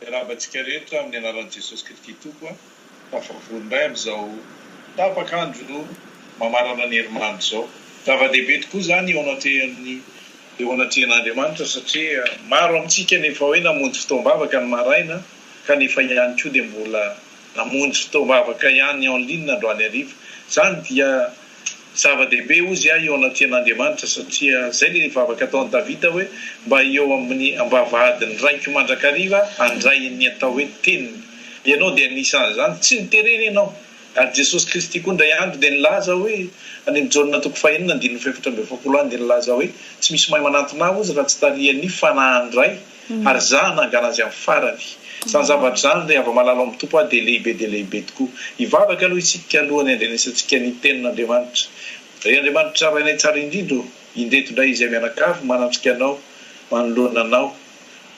Miarahaba antsika rehetra amin'ny anaran'i Jesosy Kristy Tompo a! Tafavory indray amin'izao tapaka andro mamarana ny herimanitra izao. Zava-dehibe tokoa izany eo anatrehan'ny eo anatrehan'Andriamanitra satria maro amintsika no efa hoe namonjy fotoam-bavaka ny maraina kanefa ihany koa dia mbola Namonjy fotoam-bavaka ihany en ligne androany hariva. Izany dia zava-dehibe hozy ahy eo anatrehan'Andriamanitra satria izay ilay vavaka ataon'i Davida hoe, Mba eo amin'ny ambavahadin'ny Raiko mandrakariva aho handray ny atao hoe teniny. Ianao dia anisan'izany. Tsy niterena ianao. Ary Jesosy Kristy koa indray andro dia nilaza hoe, any amin'ny Jaona toko fahenina andininy fahefatra amby efapolo any dia nilaza hoe, Tsy misy may manantona Ahy hozy raha tsy tarihan'ny Fanahin'ny Ray. ary za hanangana azy am farany. Zany zavatra zany ry havamalala ao am Tompo a dia lehibe dia lehibe tokoa. Hivavaka aloha isika alohany handrenesantsika ny tenin Andriamanitra. Ry Andriamanitra Rainay tsara indrindra o, indreto indray izay mianakavy manatrika Anao, manoloana Anao,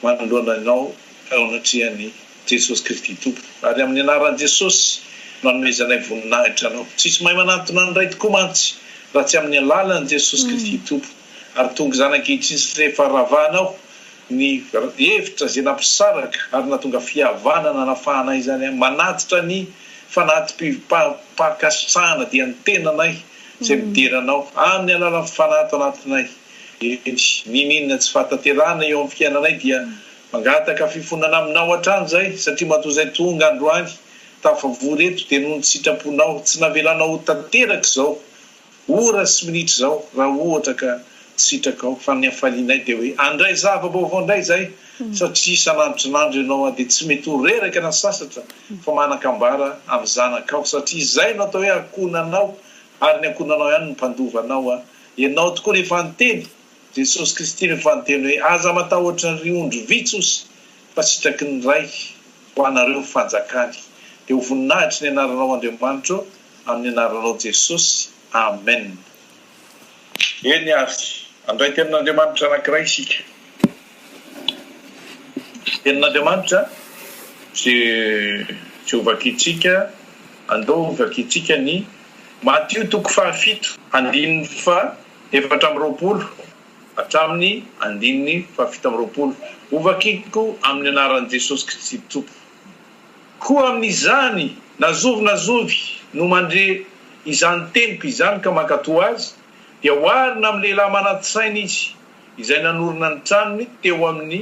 manoloana Anao ao anatrehan Jesosy Kristy Tompo. Ary amin ny anaran Jesosy no anomezanay voninahitra Anao. Tsisy mahay manantona ny Ray tokoa mantsy raha tsy amin ny alalan Jesosy Kristy Tompo. ary tonga izany ankehitriny satria efa ravahanao ny hevitra izay nampisaraka ary nahatonga fihavana nanafahanay izany aho manatitra ny fanati-pi-pa-pa-kasitrahana dia ny tenanay izay midera anao amin' ny alalan' ny Fanahy ato anatinay eny niniana tsy fahatanterahana eo amin' ny fiainanay dia mangataka fifonana aminao hatrany izay satria matoa izay tonga androany tafavory eto dia noho ny sitraponao tsy navelanao ho tanteraka izao Ora sy minitra izao raha ohatra ka tsy sitrakao fa ny hafalianay dia hoe handray zava-baovao indray izay satria isan'androisan'andro ianao dia tsy mety ho reraka na sasatra fa manan-kambara amin'ny zanakao satria izay no atao hoe ankohonanao ary ny ankohonanao ihany no mpandova anao ianao tokoa no efa niteny Jesosy Kristy no efa niteny hoe aza matahotra ry ondry vitsy osy fa sitraky ny Ray ho anareo ny fanjakany dia ho voninahitry ny anaranao Andriamanitro ô Amin'ny anaranao Jesosy Amen. Eny ary, handray tenin'Andriamanitra anankiray isika. Tenin'Andriamanitra ze tsy ho vakintsika, andao ho vakintsika ny Matio toko faha fito andininy faha efatra amby roapolo hatramin'ny andininy faha fito amby roapolo. Ho vakiko amin'ny anaran'i Jesosy Kristy Tompo. Koa amin'izany na zovy na zovy no mandre izany teniko izany ka mankatò azy, dia oharina amin'ny lehilahy manan-tsaina izy, izay nanorina ny tranony teo amin'ny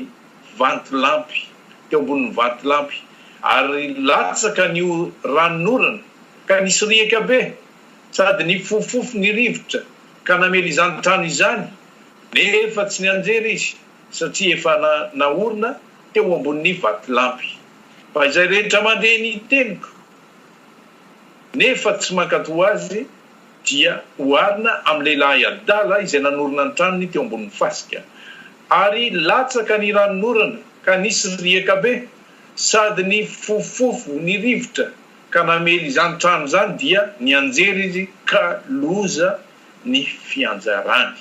vantolampy, teo ambonin'ny vantolampy, ary latsaka ny ranonorana, ka nisy riaka be, sady nifofofofo ny rivotra, ka namely izany trano izany, nefa tsy nianjera izy, satria efa naorina teo ambonin'ny vatolampy. Fa izay rehetra mandre ny teniko nefa tsy mankatò azy dia oharina amin'ny lehilahy adala izay nanorina ny tranony teo ambonin'ny fasika. Ary latsaka ny ranon'orana ka nisy riaka be, sady nifofofofo ny rivotra ka namely izany trano izany dia nianjera izy ka loza ny fianjarany.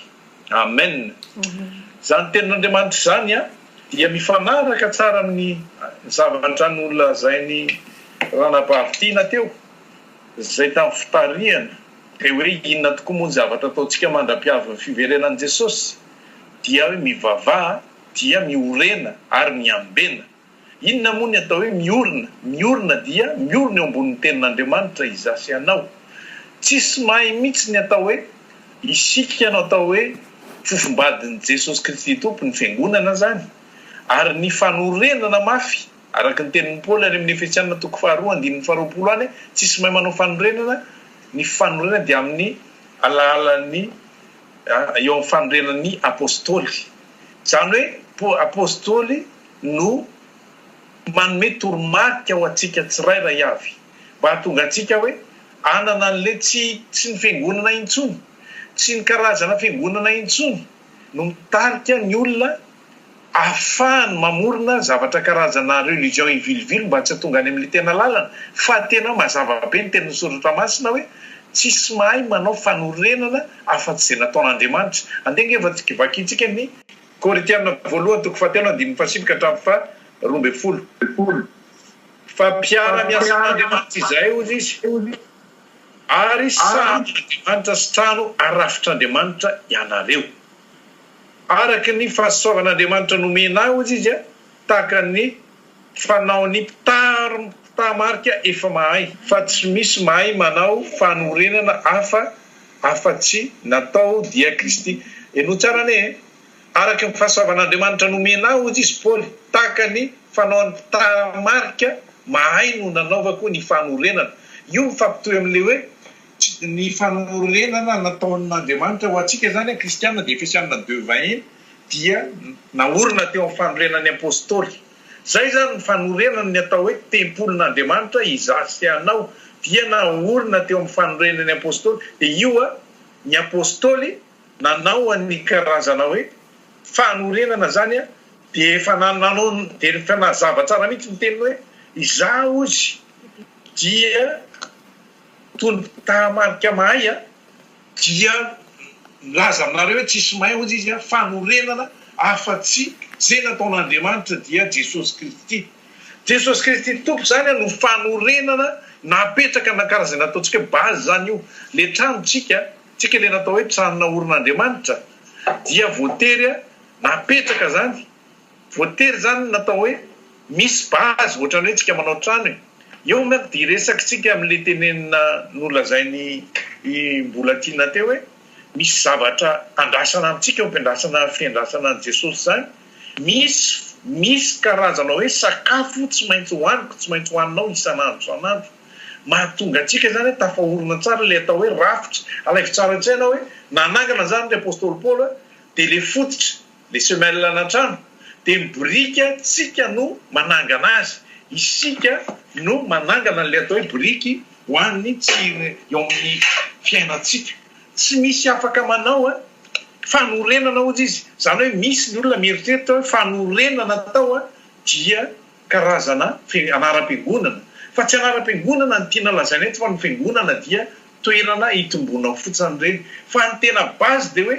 Amen! Izany tenin'Andriamanitra izany dia mifanaraka tsara amin'ny zavatra nolazain'i Ranabavy Tiana teo, izay tamin'ny fitarihana dia hoe inona tokoa moa ny zavatra ataontsika mandra-pihavin'ny fiverenan'i Jesosy? dia hoe mivavaha dia miorena ary miambena. Inona moa ny atao hoe miorina? Miorina dia miorina eo ambonin'ny Tenin'Andriamanitra izaho sy ianao. Tsisy mahay mitsy ny atao hoe isika no atao hoe fofombadin'i Jesosy Kristy Tompo, ny Fiangonana izany. Ary ny fanorenana mafy, araka ny tenin'i Paoly any amin'ny Efesiana toko faharoa andininy faharoapolo any, tsisy mahay manao fanorenana, ny fanorenana dia amin'ny alalan'ny eo amin'ny fanorenan'ny Apostoly. Izany hoe Apostoly. no manome toromarika ho antsika tsirairay avy mba hahatonga antsika hoe hanana an'ilay tsy tsy ny fiangonana intsony, tsy ny karazana fiangonana intsony no mitarika ny olona ahafahany mamorona zavatra karazana religion ivilivily mba tsy hahatonga any amin'ilay tena lalana fa tena mazava be ny tenin'ny soratra masina hoe tsisy mahay manao fanorenana afa-tsy izay nataon'Andriamanitra. Andeha ange vakintsika ny Korintiana voalohany toko fahatelo andininy fahasivy ka hatramin'ny faha roa ambin'ny folo. Fa mpiara miasa Andriamanitra izahay hoy izy, ary sahanin' Andriamanitra sy trano arafitr' Andriamanitra ianareo. Araka ny fahasoavan' Andriamanitra nomena ahy hoy izy, tahaka ny Fanaon'ny mpitary mpitaha marika efa mahay fa tsy misy mahay manao fanorenana hafa afa-tsy natao dia Kristy. Henoy tsara anie e! Araka ny fahasoavan'Andriamanitra nomena ahy, hoy izy Paoly, tahaka ny fanaon'ny mpitaha marika mahay no nanaovako ny fanorenana. Io mifampitohy amin'ilay hoe tsy ny fanorenana nataon'Andriamanitra ho antsika izany an, Kristiana, dia Efesiana deux vingt et un. dia naorina teo amin'ny fanorenan'ny Apostoly. Izay izany ny fanorenany ny atao hoe tempolin'Andriamanitra iza sy anao dia naorina teo amin'ny fanorenan'ny Apostoly dia io a ny Apostoly nanao an'ny karazana hoe fanorenana izany a dia efa nanao dia efa nazava tsara mihitsy ny teniny hoe iza ozy dia tony tahamarika mahay a Dia nilaza aminareo hoe tsisy may hozy izy a, fanorenana afa tsy ze nataon'Andriamanitra dia Jesosy Kristy. Jesosy Kristy Tompo zany a no fanorenana napetraka na karaha ze nataontsika hoe base zany io le trano tsika tsika le natao hoe trano naorin'Andriamanitra dia voatery a napetraka zany. Voatery zany natao hoe misy base ohatrany hoe tsika manao trano e. Eo manko dia iresaky tsika amin'le tenenina nolazain'i i Mbolatina teo hoe misy zavatra andrasana amintsika ampiandrasana fiandrasana an'i Jesosy zany misy misy karazana hoe sakafo tsy maintsy hohaniko tsy maintsy hohaninao isan'andro isan'andro mahatonga antsika zany hoe tafahorona tsara le atao hoe rafitra alaivo tsara an-tsaina hoe nanangana zany le apostoly Paoly dia le fototra Le semelle an antrano de ny boriky tsika no manangana azy, isika no manangana anle atao hoe boriky ho an'ny tsirony eo amin'ny fiainantsika, tsy misy afaka manao an, fanorenana ozy izy, zany hoe misy ny olona mieritreritra hoe fanorenana tao an dia karazana fe anaram-piangonana, fa tsy anaram-piangonana ny tiana lazaina eto fa ny fiangonana dia toerana itombonao fotsiny reny, fa ny tena base de hoe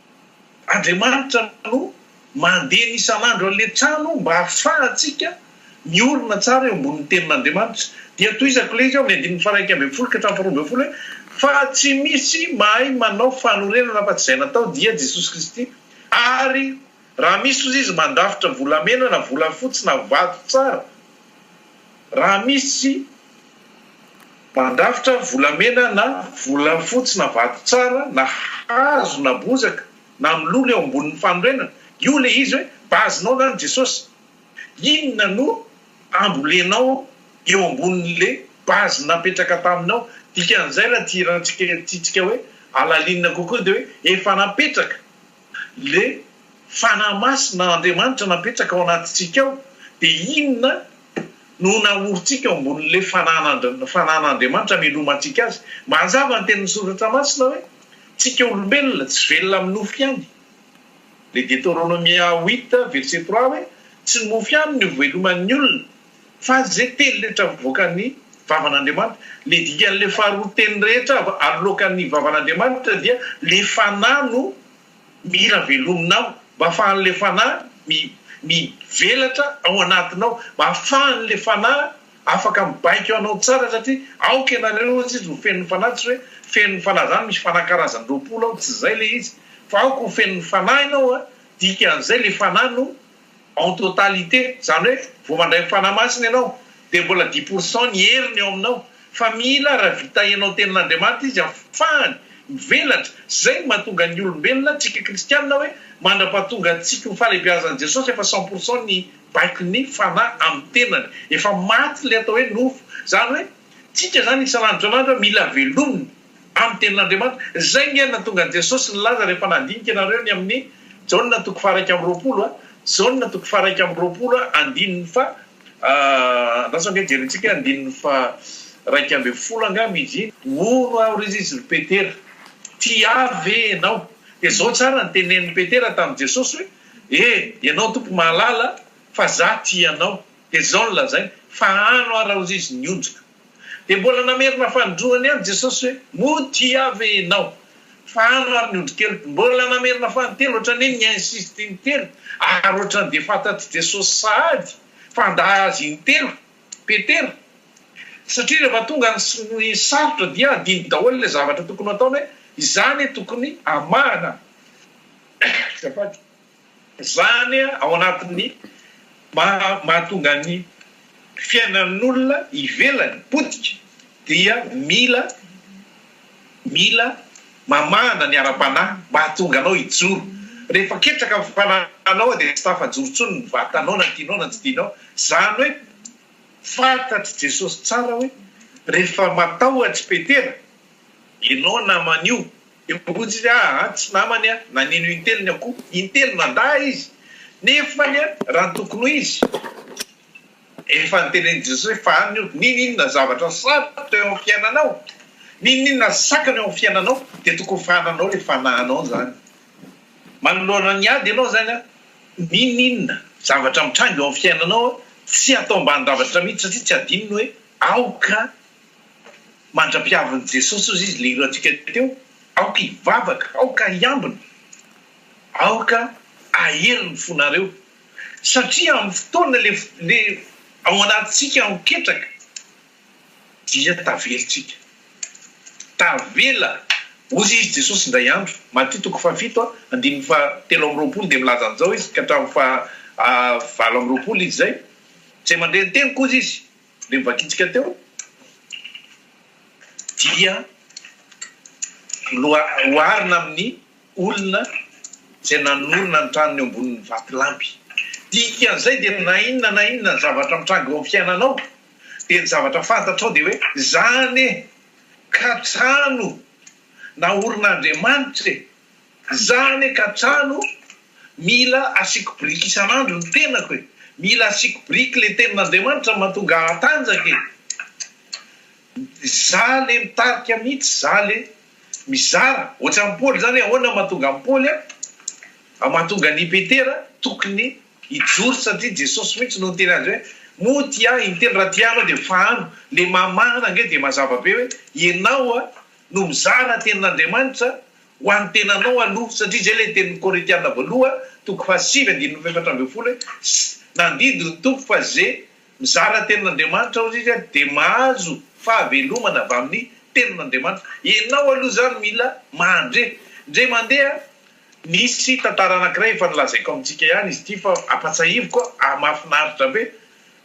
Andriamanitra no mandena isan'andro an'ilay trano mba hahafahantsika miorina tsara eo ambonin'ny Tenin'Andriamanitra. Dia tohizako ilay izy ao amin'ny andininy faha-iraika ambin'ny folo ka hatramin'ny faharoa ambin'ny folo hoe, Fa tsy misy mahay manao fanorenana afa-tsy izay natao, dia Jesosy Kristy. Ary raha misy, hoy izy, mandrafitra volamena na volafotsy na vato tsara, raha misy, Mandrafitra volamena na volafotsy na vato tsara na hazo na bozaka na milolo eo ambonin'ny fanorenana, io ilay izy hoe base-nao zany Jesosy. Inona no ambolenao eo ambonin'ilay base napetraka taminao? Dikan'izay raha tia hirantsika, tiantsika hoe halalinina kokoa dia hoe efa napetraka Ilay Fanahy Masina Andriamanitra napetraka ao anatintsika ao dia inona no naorintsika eo ambonin'ilay Fanan'Andriamanitra amelomantsika Azy? Mazava ny tenin'ny Soratra Masina hoe tsika olombelona tsy velona amin'ny nofo ihany. Ilay Deteronomia huit verset trois hoe tsy ny mofo ihany no iveloman'ny olona. Fa izay teny rehetra mivoakan'ny vavan'Andriamanitra, le dikan'le faharoa teny rehetra aloakan'ny vavan'Andriamanitra dia le fanahy no mila velominao, mba afahan'le fanahy mi mivelatra ao anatinao, mba afahan'le fanahy afaka mibaiko anao tsara satria aoka ianareo hozy izy ho fenon'ny fanahy, tsy hoe fenon'ny fanahy zany misy fanahy karazany roapolo ao, tsy zay le izy, fa aoka ho fenon'ny fanahy ianao a, dikan'izay le fanahy no En totalité, izany hoe vao mandray ny Fanahy Masina ianao dia mbola dix pour cent ny heriny ao aminao, fa mila raha vita henao tenin'Andriamanitra izy afahany mivelatra, izay no mahatonga ny olombelona, antsika kristianina hoe mandrapahatonga antsika ho fahalebiazan'i Jesosy efa cent pour cent ny baikon'ny Fanahy amin'ny tenany, efa maty ilay atao hoe nofo, izany hoe tsika izany isan'andro isan'andro mila velomina. amin'ny tenin'Andriamanitra. Izay ny aina tongan'i Jesosy nilaza rehefa nandinika ianareo ny amin'ny Jaona toko faharaika amby roapolo a, Jaona toko faharaika amby roapolo a, andininy faha, andraso ange jerintsika, andininy faharaika ambin'ny folo angamba izy iny, Mono aho ry Izy ry Petera, tia ahy ve ianao? Dia izao tsara ny tenenin'i Petera tamin'i Jesosy hoe, E, ianao Tompo mahalala fa zah tia anao. Dia izao no lazainy, Fahano aho raha hozizin'ny onjiko. Dia mbola namerina fanindroany ihany Jesosy hoe, Moa tia Ahy ve ianao? Fa ano ary ny ondrikeliko. Mbola namerina fanintelo ohatran'ny hoe ni-insiste intelo ary ohatran'ny dia fantatr'i Jesosy sahady fa handà Azy intelo Petera. Satria rehefa tonga ny sarotra dia adino daholo ilay zavatra tokony ho ataony hoe, Izaho anie tokony hamahana izay faty. Izany ao anatin'ny maha mahatonga ny fiainan'olona ivelany potika dia mila mila mamahana ny ara-panahy mba hahatonga anao hijoro. Rehefa ketraka ny fanahinao dia tsy tafajoro intsony ny vatanao na tianao na tsy tianao. Izany hoe fantatr'i Jesosy tsara hoe rehefa matahotra i Petera ianao naman'io, Io bokotsy izy a a tsy namany a nanino intelo ny akoho intelo mandà izy nefa ny a raha ny tokony ho izy efa nitenen'i Jesosy fa any io ninoninona zavatra sarotra eo amin'ny fiainanao ninoninona sakana eo amin'ny fiainanao dia tokony fa hananao le fanahinao zany manoloana ny ady ianao zany a ninoninona zavatra mitranga eo amin'ny fiainanao a tsy atao ambanin-javatra mihitsy satria tsy adinony hoe aoka Mandra-pihavin'i Jesosy ozy izy, le hirantsika teo, aoka hivavaka, aoka hiambina, aoka hahery ny fonareo, satria amin'ny fotoana le le ao anatintsika ho ketraka dia tavelintsika. Tavela ozy izy Jesosy indray andro, Matio toko faha fito andininy faha telo amby roapolo dia milaza an'izao izy ka hatramin'ny faha valo amby roapolo izy izay, Izay mandre ny teniko ozy izy, Dia ny vakintsika teo dia oharina amin'ny olona izay nanorina ny tranony eo ambonin'ny vatolampy. Dikan'izay dia na inona na inona zavatra mitranga eo amin'ny fiainanao dia ny zavatra fantatrao dia hoe izany e! ka trano naorin'Andriamanitra e! Za anie ka trano mila asiako biriky isan'andro ny tenako e! Mila asiako biriky le tenin'Andriamanitra mahatonga ahy hatanjaka e! Za le mitarika mitsy, za le mizara, ohatran'i Paoly zany, ahoana mahatonga an'i Paoly a, mahatonga an'i Petera tokony hijoro satria Jesosy mitsy no niteny azy hoe moa tia ahy intelo raha tia ahy anao de fahano, le mamahana ange de mazava be hoe enao no mizara tenin'Andriamanitra Ho an'ny tenanao aloha, satria izay ilay tenin'ny Korintiana voaloha, toko fahasivy andininy fahefatra ambin'ny folo hoe, Sy nandidy ny Tompo fa izay mizara tenin'Andriamanitra hozy izy dia mahazo fahavelomana avy amin'ny tenin'Andriamanitra. Ianao aloha izany mila mandre. Ndre mandeha, nisy tantara anankiray efa nolazaiko amintsika ihany izy ity fa ampatsahiviko aho, mahafinaritra be.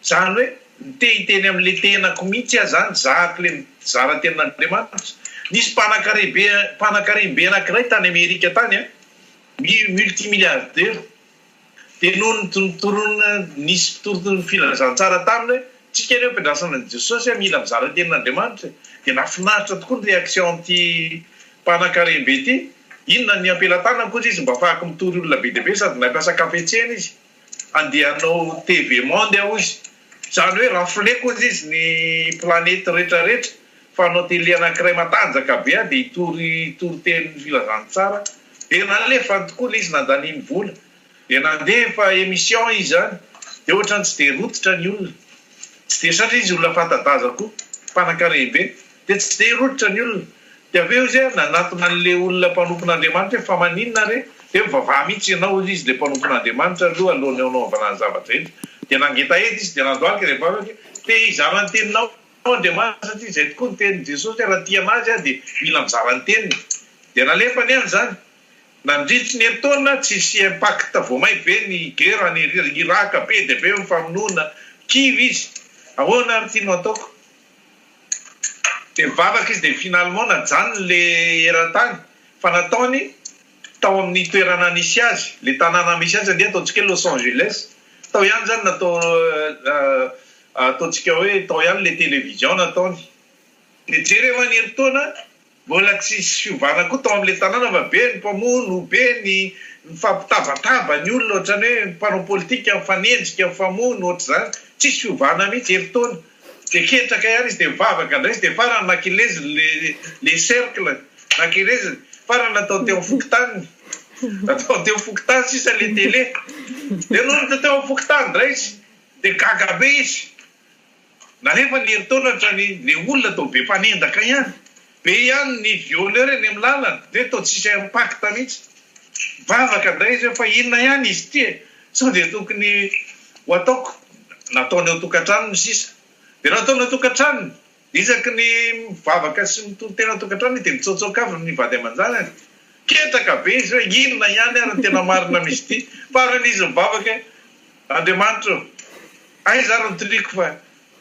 Zany hoe nite hiteny am le tenako mitsy aho zany zahako le mizara tenin'Andriamanitra. Nisy mpanakarebe mpanakarembe anakiray tany Amerika tany an, multimilliardaire, de noho ny nitoron nisy mpitory filazantsara taminy hoe tsika anie mpiandrasana an'i Jesosy an mila mizara tenin'Andriamanitra e, de nafinaritra tokoa ny reaction an'ity mpanakarembe ity, inona ny ampelatanako ozy izy mba afahako mitory olona be dia be sady nampiasa kafetsena izy. Handeha hanao TV monde aho izy. Izany hoe rafleko hozy izy ny planety rehetra rehetra fa hanao tele anankiray matanjaka be aho dia hitory hitory teny filazantsara dia nalefany tokoa ilay izy nandaniany vola dia nandefa emission izy izany dia ohatrany tsy dia rototra ny olona tsy dia satria izy olona fanta-daza koa mpanankarem-be Dia tsy dia rototra ny olona. Dia avy eo izy hoe nanatona an'ilay olona mpanompon'Andriamanitra hoe, Fa maninona re? Dia hoe, Mivavaha mihitsy ianao, hoy izy, ilay mpanompon'Andriamanitra aloha, alohan'ny hanaovana ny zava-drehetra. Dia nangetaheta izy, dia nandohalika ilay vavaka hoe, Te hizara ny teninao aho, Andriamanitra, satria izay tokoa ny tenin'i Jesosy hoe, Raha tia an'Azy aho, dia mila mizara ny teniny. Dia nalefa ny azy izany. Nandritry ny herintaona, tsy hisy impact vao may be ny guerre any Iraka, be dia be ny famonoana, kivy izy. Ahoana ary ity no ataoko? Dia nivavaka izy, dia finalement najanony ilay eran-tany, fa nataony tao amin'ny toerana nisy azy, ilay tanàna misy azy ange ataontsika hoe Los Angeles, tao ihany izany natao, ataontsika hoe tao ihany ilay télévision nataony, dia jereo an'herintaona, Mbola tsy hisy fiovana koa tao amin'ilay tanàna fa be ny mpamono, be ny mifampitabataba ny olona ohatran'ny hoe mpanao politika mifanenjika, mifamono ohatr'izany. Tsisy fiovana mihitsy, herintaona. Dia ketraka ihany izy dia mivavaka indray izy dia farany nakeleziny ilay ilay cercle, nakeleziny. Farany natao teo amin'ny fokontaniny. Natao teo amin'ny fokontany sisa ilay télé. Dia nonina teo amin'ny fokontany indray izy. Dia gaga be izy. Na rehefa ny herintaona hatrany le olona toa be mpanendaka ihany, be ihany ny violeur eny amin'ny lalana dia toa tsisy impact mihitsy. Mivavaka indray izy hoe fa inona ihany izy ity e? Sao dia tokony ho ataoko nataony ao tokantranony sisa? Dia raha ataony ao tokantranony, dia isaky ny mivavaka sy mitory tena ao tokantranony dia mitsaotsaoka avy ny vady aman-janany. Ketraka be izy hoe inona ihany ary ny tena marina amin'izy ity? Faran'izy mivavaka hoe. Andriamanitra ô! Aiza ary ny tiliako fa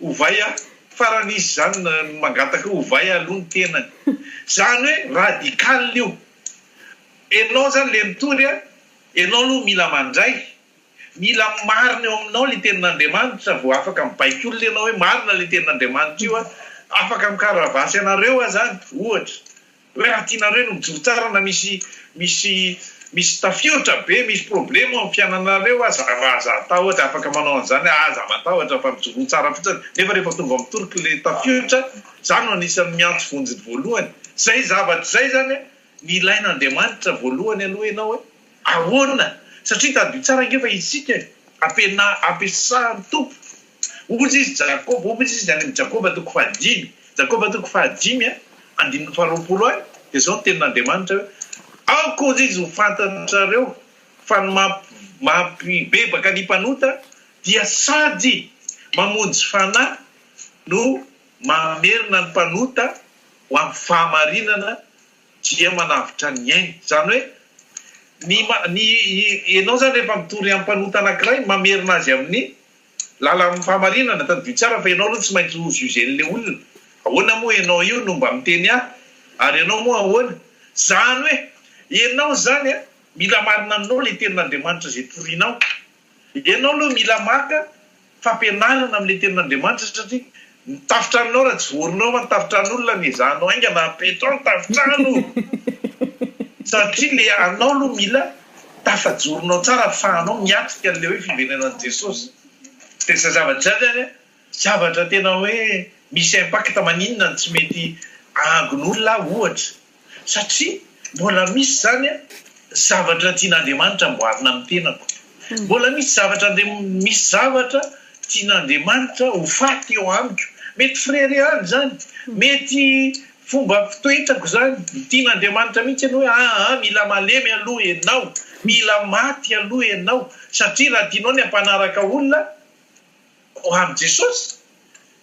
ovay aho, farany izy izany no mangataka hoe ovay aho aloha ny tenany. Izany hoe radical io. Ianao izany ilay mitory a, ianao aloha mila mandray, mila marina eo aminao ilay tenin'Andriamanitra vao afaka mibaiko olona ianao hoe marina ilay tenin'Andriamanitra io a, afaka mikaravasy anareo aho izany, ohatra. Hoe raha tianareo no mijoro tsara na misy misy misy tafiotra be misy problemo am fiananareo aza raha aza atahotra afaka manao anzany ah aza matahotra fa mijoroa tsara fotsiny nefa rehefa tonga am toroky le tafiotra za no anisany miantso vonjy voalohany zay zavatra zay zany a ny ilain Andriamanitra voalohany aloha enao hoe ahona satria tadidio tsara nge fa isika e ampiana ampiasan Tompo Hoy izy Jakoba, hoy izy any amin'ny Jakoba toko fahadimy, Jakoba toko fahadimy a, andininy faharoapolo any, dia izao ny tenin'Andriamanitra hoe, Aoka hoy izy ho fantatrareo fa ny mampibebaka ny mpanota dia sady mamonjy fanahy no mamerina ny mpanota ho amin'ny fahamarinana dia manavotra ny ainy. Izany hoe, ny, ny, ianao izany rehefa mitory amin'ny mpanota anankiray, mamerina azy amin'ny Lalam pahamarinana, tadidio tsara fa ianao aloha tsy maintsy ho juger an'ilay olona, ahoana moa ianao io no mba miteny ahy, ary ianao moa ahoana, zany hoe ianao izany a mila marina aminao ilay tenin'Andriamanitra izay torinao, ianao aloha mila maka fampianarana amin'ilay tenin'Andriamanitra satria Ny tafotranonao raha tsy voaronao fa ny tafotran'olona no ezahanao haingana apetraho ny tafotrano satria le anao aloha mila tafajoronao tsara afahanao miatrika an'le hoe fiverenan'i Jesosy de zay zavatra zay zany a zavatra tena hoe misy impact maninona no tsy mety ahagon'olona aho ohatra satria mbola misy zany a zavatra tian'Andriamanitra amboarina amin'ny tenako, mbola misy zavatra Andriamanitra, misy zavatra tian'Andriamanitra ho faty eo amiko, mety frere any zany, mety fomba fitoetrako zany, tian'Andriamanitra mihitsy anie hoe aa mila malemy aloha enao, mila maty aloha enao, satria raha tianao ny hampanaraka olona, Ho an'i Jesosy,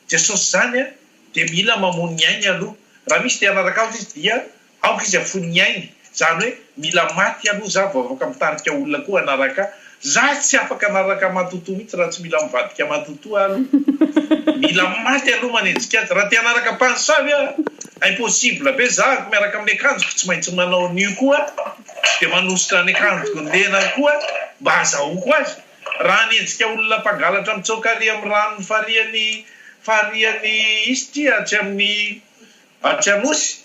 Jesosy izany dia mila mamono ny ainy aloha. Raha misy dia hanaraka Azy Izy dia aoka Izy hafono ny ainy. Izany hoe mila maty aloha za vao afaka mitarika olona koa hanaraka ahy. Za tsy afaka hanaraka matotoa mihitsy raha tsy mila mivadika matotoa aho aloha. Mila maty aloha manenjika Azy. Raha te hanaraka mpamosavy aho, impossible be za miaraka amin'ny akanjoko tsy maintsy manao nu koa dia manositra ny akanjoko ny lelany koa mba hazahoako Azy. Raha hanenjika olona mpangalatra mitsoaka ary amin'ny ranon'ny farihan'i farihan'i Istria atsy amin'ny atsy Anosy,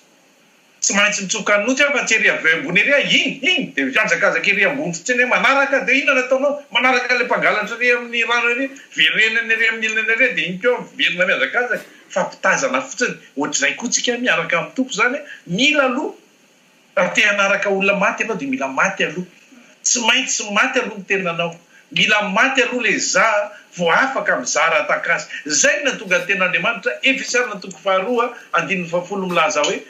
tsy maintsy mitsoka Anosy aho fa tsy ery avy ambony ery aho, iny, iny dia mihazakazaka ery ambony fotsiny aho manaraka, dia inona no ataonao? Manaraka ilay mpangalatra ery amin'ny rano ery, verenany ery amin'ny ilany ery dia iny koa miverina mihazakazaka, fampitazana fotsiny, ohatr'izay koa tsika miaraka amin'ny Tompo izany, mila aloha Raha te hanaraka olona maty ianao dia mila maty aloha. Tsy maintsy maty aloha ny tenanao. Mila maty aloha le za vao afaka mizara atak'asa. Zay no nahatonga ny ten'Andriamanitra, Efesana toko faharoa andininy fahafolo milaza hoe,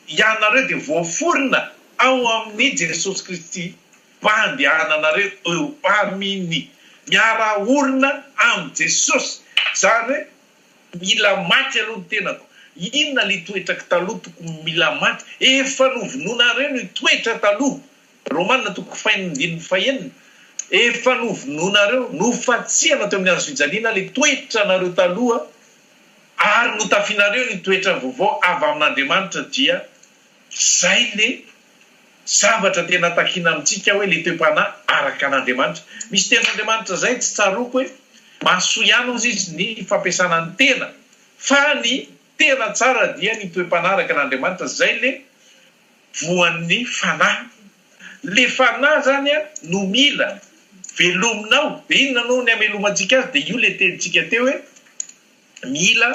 Ianareo dia voaforona ao amin'i Jesosy Kristy mba handehananareo eo Aminy. Miara-orona amin'i Jesosy. Zany hoe. Mila maty aloha ny tenako. Inona le toetra ky taloha tokony mila maty? Efa novonoinareo ny toetra taloha. Romana toko fahenina andininy fahenina. Efa novonoinareo, nofatsihana teo amin'ny hazofijaliana le toetra anareo taloha ary notafinareo ny toetra vaovao avy amin'Andriamanitra dia Izay le zavatra tena takina amintsika hoe le toe-panahy araka an'Andriamanitra. Misy tenin'Andriamanitra izay tsy tsaroako hoe mahasoa ihany hozy izy ny fampiasana ny tena fa ny tena tsara dia ny toe-panahy araka an'Andriamanitra izay le voan'ny fanahy. Le fanahy izany no mila velomina ao. De inona no ny hamelomantsika azy de io le tenintsika teo hoe mila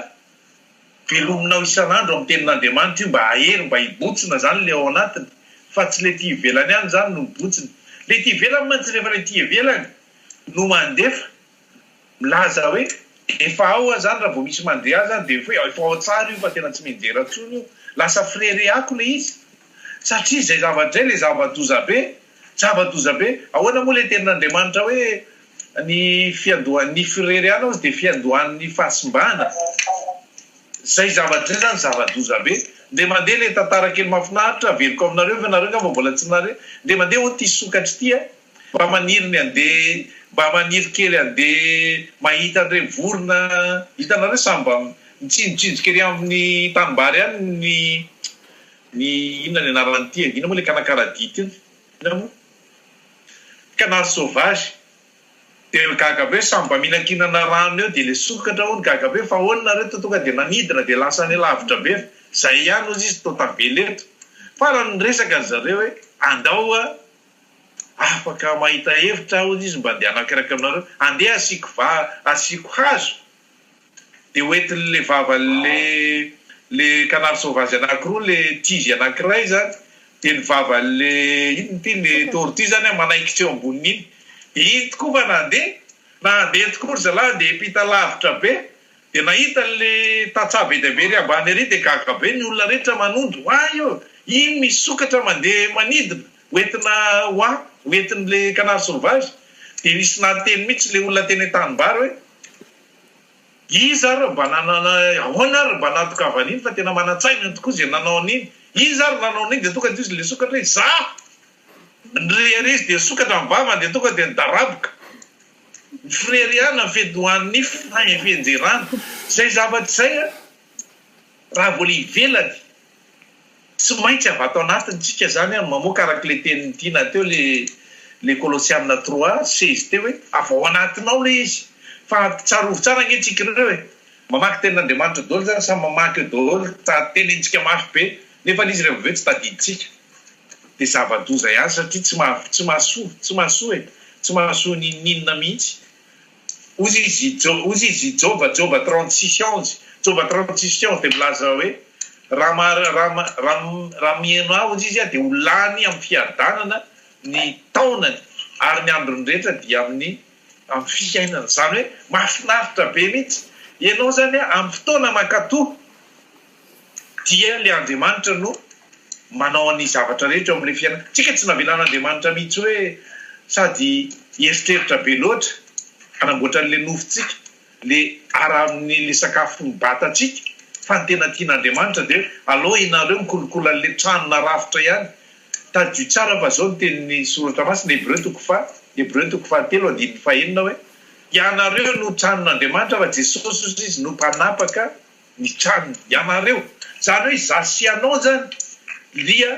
Velominao isan'andro amin'ny tenin'Andriamanitra io mba hahery mba hibotsina zany le ao anatiny fa tsy le ty ivelany any zany no mibotsina. Le ty ivelany mantsy rehefa le ty ivelany no mandefa milaza hoe efa ao aho zany raha vao misy mandre ahy zany de efa hoe efa ao tsara io fa tena tsy mianjera tsony io. Lasa fireharehako le izy satria zay zavatra zay le zava-doza be, zava-doza be. Ahoana moa le tenin'Andriamanitra hoe. Ny fiandohan'ny fireriana hozy dia fiandohan'ny fahasimbana. Zay zavatra zay zany zava-doza be. Ndeha mandeha ilay tantara kely mahafinaritra averiko aminareo fa nareo angamba mbola tsy nahare. Ndeha mandeha hono ity sokatra ity a. Mba maniry ny handeha, mba maniry kely handeha mahita an'ireny vorona, hitanareo samy mba mitsinjotsinjoka ery amin'ny tanimbary any ny ny inona ny anarany ity e? Inona moa ilay kanakaradia ity? Inona moa? Canard sauvage, dia ry gaga be samy mba mihinankinana rano eo dia ilay sokatra hono gaga be fa ahoana nareo to tonga dia nanidina dia lasa any lavitra be fa izay ihany ozy izy to tavela eto farany niresaka ry zareo hoe andao a afaka mahita hevitra aho ozy izy mba andehanako eraky aminareo andeha asiako va asiako hazo de hoentiny le vavan le le canard sauvage anaky roa le tige anakiray zany de ny vavan le inona ty le tortue zany an manaikitra eo amboniny iny de iny tokoa va nande na ande tokoa ry zalahy ande hiampita lavitra be de nahita an le tantsaha be dia be ery ambany ery de gaga be ny olona rehetra manondro oay o iny misy sokatra mande manidina hoentina hoa hoentin'le canard sauvage dia nisy nanteny mihitsy le olona teny an-tanimbary hoe iza ary mba nanana ahoana ary mba nahatokavany iny fa tena manan-tsaina iny tokoa izay nanao an'iny iza ary nanao an'iny dia tonga dia izy le sokatra hoe izaho nireha ary izy dia sokatra ny vavany dia tonga dia nidaraboka ny firehariana ny fidohan'ny fihenjerana izay zavatra izay raha vao le ivelany Tsy maintsy avy ato anatiny tsika izany an, mamoaka araka ilay tenin'i Tiana teo ilay ilay Kolosiana trois seize teo hoe avy ao anatinao ilay izy fa tsarovy tsara ange tsika ireo e, mamaky tenin'Andriamanitra daholo izany samy mamaky eo daholo ta tenenintsika mafy be nefa ilay izy rehefa avy eo tsy tadidintsika dia zava-doza ihany satria tsy maha tsy mahasoa tsy mahasoa e, tsy mahasoa n'inon'inona mihitsy. Hozy izy, hozy izy, Joba, Joba trente six ans, Joba trente six ans, dia milaza hoe, Raha ma, raha ma, raha, raha miheno ahy, hozy izy, dia ho lany amin'ny fiadanana ny taonany ary ny androny rehetra dia amin'ny, amin'ny fiainana. Izany hoe, mahafinaritra be mihitsy. Ianao izany amin'ny fotoana mankatò. Dia ilay Andriamanitra no manao ny zavatra rehetra eo amin'ilay fiainana. Tsika tsy navelan'Andriamanitra mihitsy hoe sady hieritreritra be loatra hanamboatra an'ilay nofontsika, ilay ara amin'ilay sakafo mibatantsika, fa ny tena tian'Andriamanitra dia hoe aleo ianareo mikolokolo an'ilay trano narafitra ihany. Tadidio tsara fa izao ny tenin'ny Soratra Masina, Hebreo toko faha, Hebreo toko fahatelo andininy fahenina hoe, Ianareo no tranon'Andriamanitra fa Jesosy Izy no mpanapaka, ny trano ianareo zany hoe za sy ianao zany lia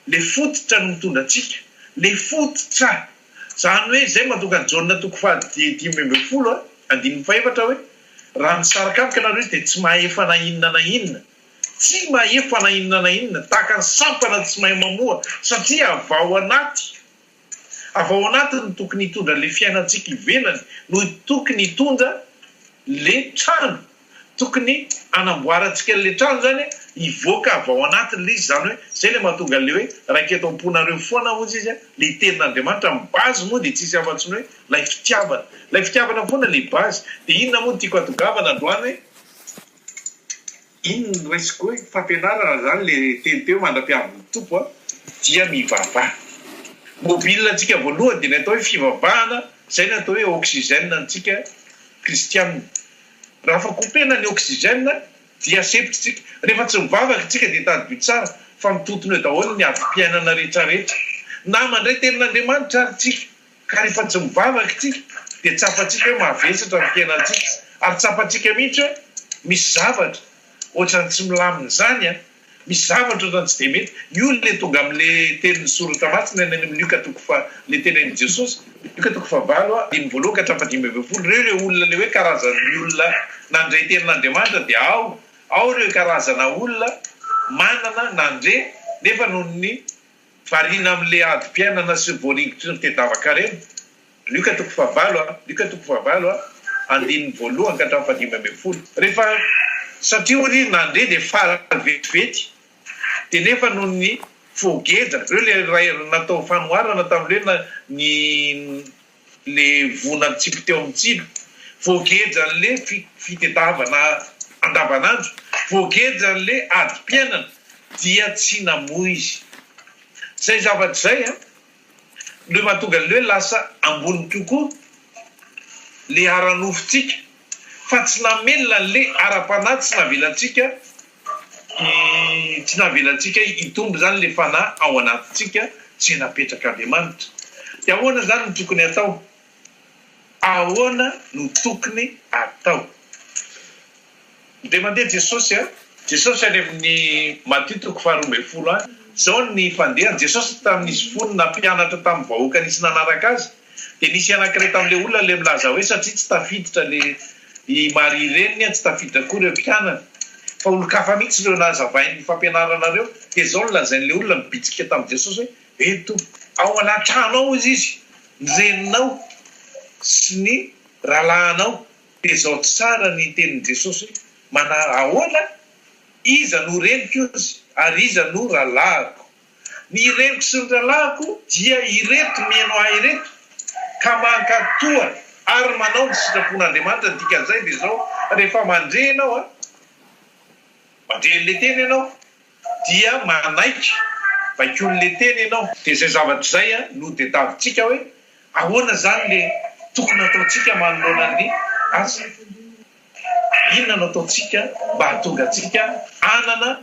le fototra no mitondra antsika le fototra zany hoe zay mahatonga an'i Jaona toko faha dimy ambin'ny folo andininy fahefatra hoe raha misaraka amiko ianareo izy dia tsy mahefa na inona na inona tsy mahefa na inona na inona tahaka ny sampana tsy mahay mamoha satria avy ao anaty Avy ao anatiny no tokony hitondra le fiainantsika ivelany no tokony hitondra le trano tokony hanamboarantsika le trano zany a hivoaka avy ao anatiny le izy zany hoe zay le mahatonga le hoe raika eto amponareo foana ozy izy a le tenin'Andriamanitra ny base moa de tsisy afatsy ny hoe lay fitiavana lay fitiavana foana le base de inona moa no tiako hatongavana androany hoe Inn no resiko hoe fampianarana zany le teny teo mandra-piavin'ny Tompo a! dia mivavaha. Mobile antsika voalohany dia ny atao hoe fivavahana, izay no atao hoe oxygène antsika kristianina. Raha fa kopena ny oxygène dia sempotry tsika. Rehefa tsy mivavaka tsika dia tadidio tsara fa mitotona eo daholo ny adim-piainana rehetrarehetra. Nama ndray tenin'Andriamanitra ary tsika. Ka rehefa tsy mivavaka isika dia tsapantsika hoe mavesatra ny fiainantsika ary tsapantsika mihitsy hoe misy zavatra ohatran'ny tsy milamina izany an! Misy zavatra ohatran'ny tsy dia mety. Io ilay tonga amin'ilay teny nisoratra masina any amin'ny Lioka toko fa, ilay teny an'i Jesosy, Lioka toko fahavalo a, andininy voalohany ka hatramin'ny fahadimy ambin'ny folo, ireo ilay olona ilay hoe karazan'ny olona nandre tenin'Andriamanitra dia ao, ao ireo karazana olona manana nandre nefa noho ny. Variana amle adim-piainana sy ny voaringotry ny fitadiavan-karena. Luka toko fahavalo a. Luka toko fahavalo a. Andininy voalohany ka hatramin'ny fahadimy ambin'ny folo. Rehefa satria hono izy nandre dia faly vetivety dia nefa noho ny fogeja reo le natao fanoharana tamle ny le vona mitsipy teo amin'ny tsilo, voageja an'le fitedavana andavanandro, voageja an'le adim-piainana dia tsy namoa izy. Zay zavatra zay an, le mahatonga an'le hoe lasa ambony kokoa le ara-nofontsika fa tsy namelona an'le ara-panahy tsy navelantsika, Tsy navelantsika hitombo izany ilay fanahy ao anatintsika izay napetrak'Andriamanitra. Dia ahoana izany no tokony hatao? Ahoana no tokony hatao? Dia mandeha Jesosy a! Jesosy any amin'ny Matio toko faharoa ambin'ny folo any, izao ny fandehan'i Jesosy tamin'izy fony nampianatra tamin'ny vahoaka nisy nanaraka azy, Dia nisy anankiray tamin'ilay olona ilay milaza hoe satria tsy tafiditra le i Maria reniny, tsy tafiditra koa ireo mpianany. Fa olon-kafa mihitsy ireo nazavain'ny fampianarana ireo. Dia izao no lazain'ilay olona nibitsika tamin'i Jesosy hoe, Eny Tompo, ao anaty trano ao hozy izy, ny reninao sy ny rahalahinao. Dia izao tsara ny tenin'i Jesosy hoe, Manà ahoana? Iza no reniko hozy, ary iza no rahalahiko? Ny reniko sy ny rahalahiko dia ireto miheno ahy ireto, ka mankatò ary manao ny sitrapon'Andriamanitra, ny dikan'izay dia izao, rehefa mandre ianao a, mandre an'ilay teny ianao, dia manaiky baikoin'ilay teny ianao. Dia izay zavatra izay no tadiavintsika hoe ahoana izany ilay tokony hataontsika manoloana ny asa. Inona no ataontsika mba hahatonga antsika hanana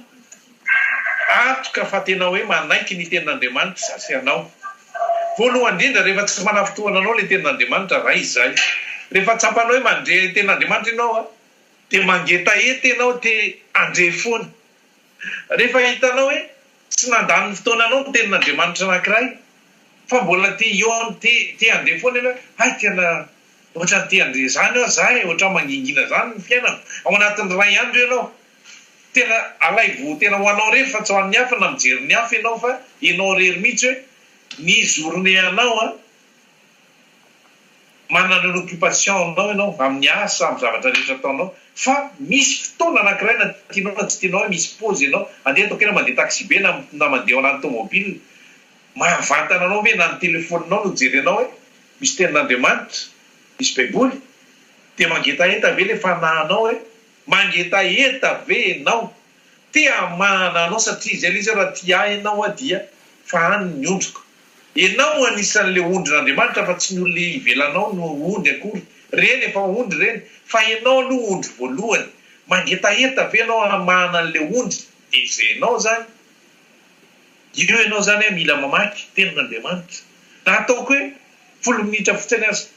antoka fa tena hoe manaiky ny Tenin'Andriamanitra izaho sy ianao? Voalohany indrindra, rehefa tsy manafitohana anao ilay Tenin'Andriamanitra, ray izay. Rehefa tsapanao hoe mandre Tenin'Andriamanitra ianao, dia mangetaheta ianao te handre foana. Rehefa hitanao hoe tsy nandany ny fotoananao ny tenin'Andriamanitra anankiray, fa mbola te hihaona, te te handeha foana ianao hoe, hay tena ohatran'ny te handeha izany aho za e, ohatran'ny mangingina izany ny fiainako, ao anatin'ny iray andro ianao, tena alaivo tena ho anao irery fa tsy ho an'ny hafa na mijery ny hafa ianao fa ianao irery mihitsy hoe ny journée anao an, Manana an'ireo occupation anao ianao, amin'ny asa, amin'ny zavatra rehetra ataonao, fa misy fotoana anankiray na tianao na tsy tianao hoe misy pause ianao, andeha ataoko hoe na mandeha taxibe na na mandeha ao anaty tomobile, mahavantana anao ve na ny telefoninao no jerenao hoe misy tenin'Andriamanitra, misy baiboly, dia mangetaheta ve ilay fanahinao hoe mangetaheta ve ianao, te hamahana anao satria izay ilay izy hoe raha tia ahy ianao dia fahano ny ondriko. Enao no anisan'le ondrin'Andriamanitra fa tsy ny olona ivelanao no ondry akory, reny efa ondry reny, fa enao aloha ondry voalohany, mangetaheta ve enao hamahana an'le ondry de izay enao zany, io enao zany a mila mamaky tenin'Andriamanitra na ataoko hoe folo minitra fotsiny aza,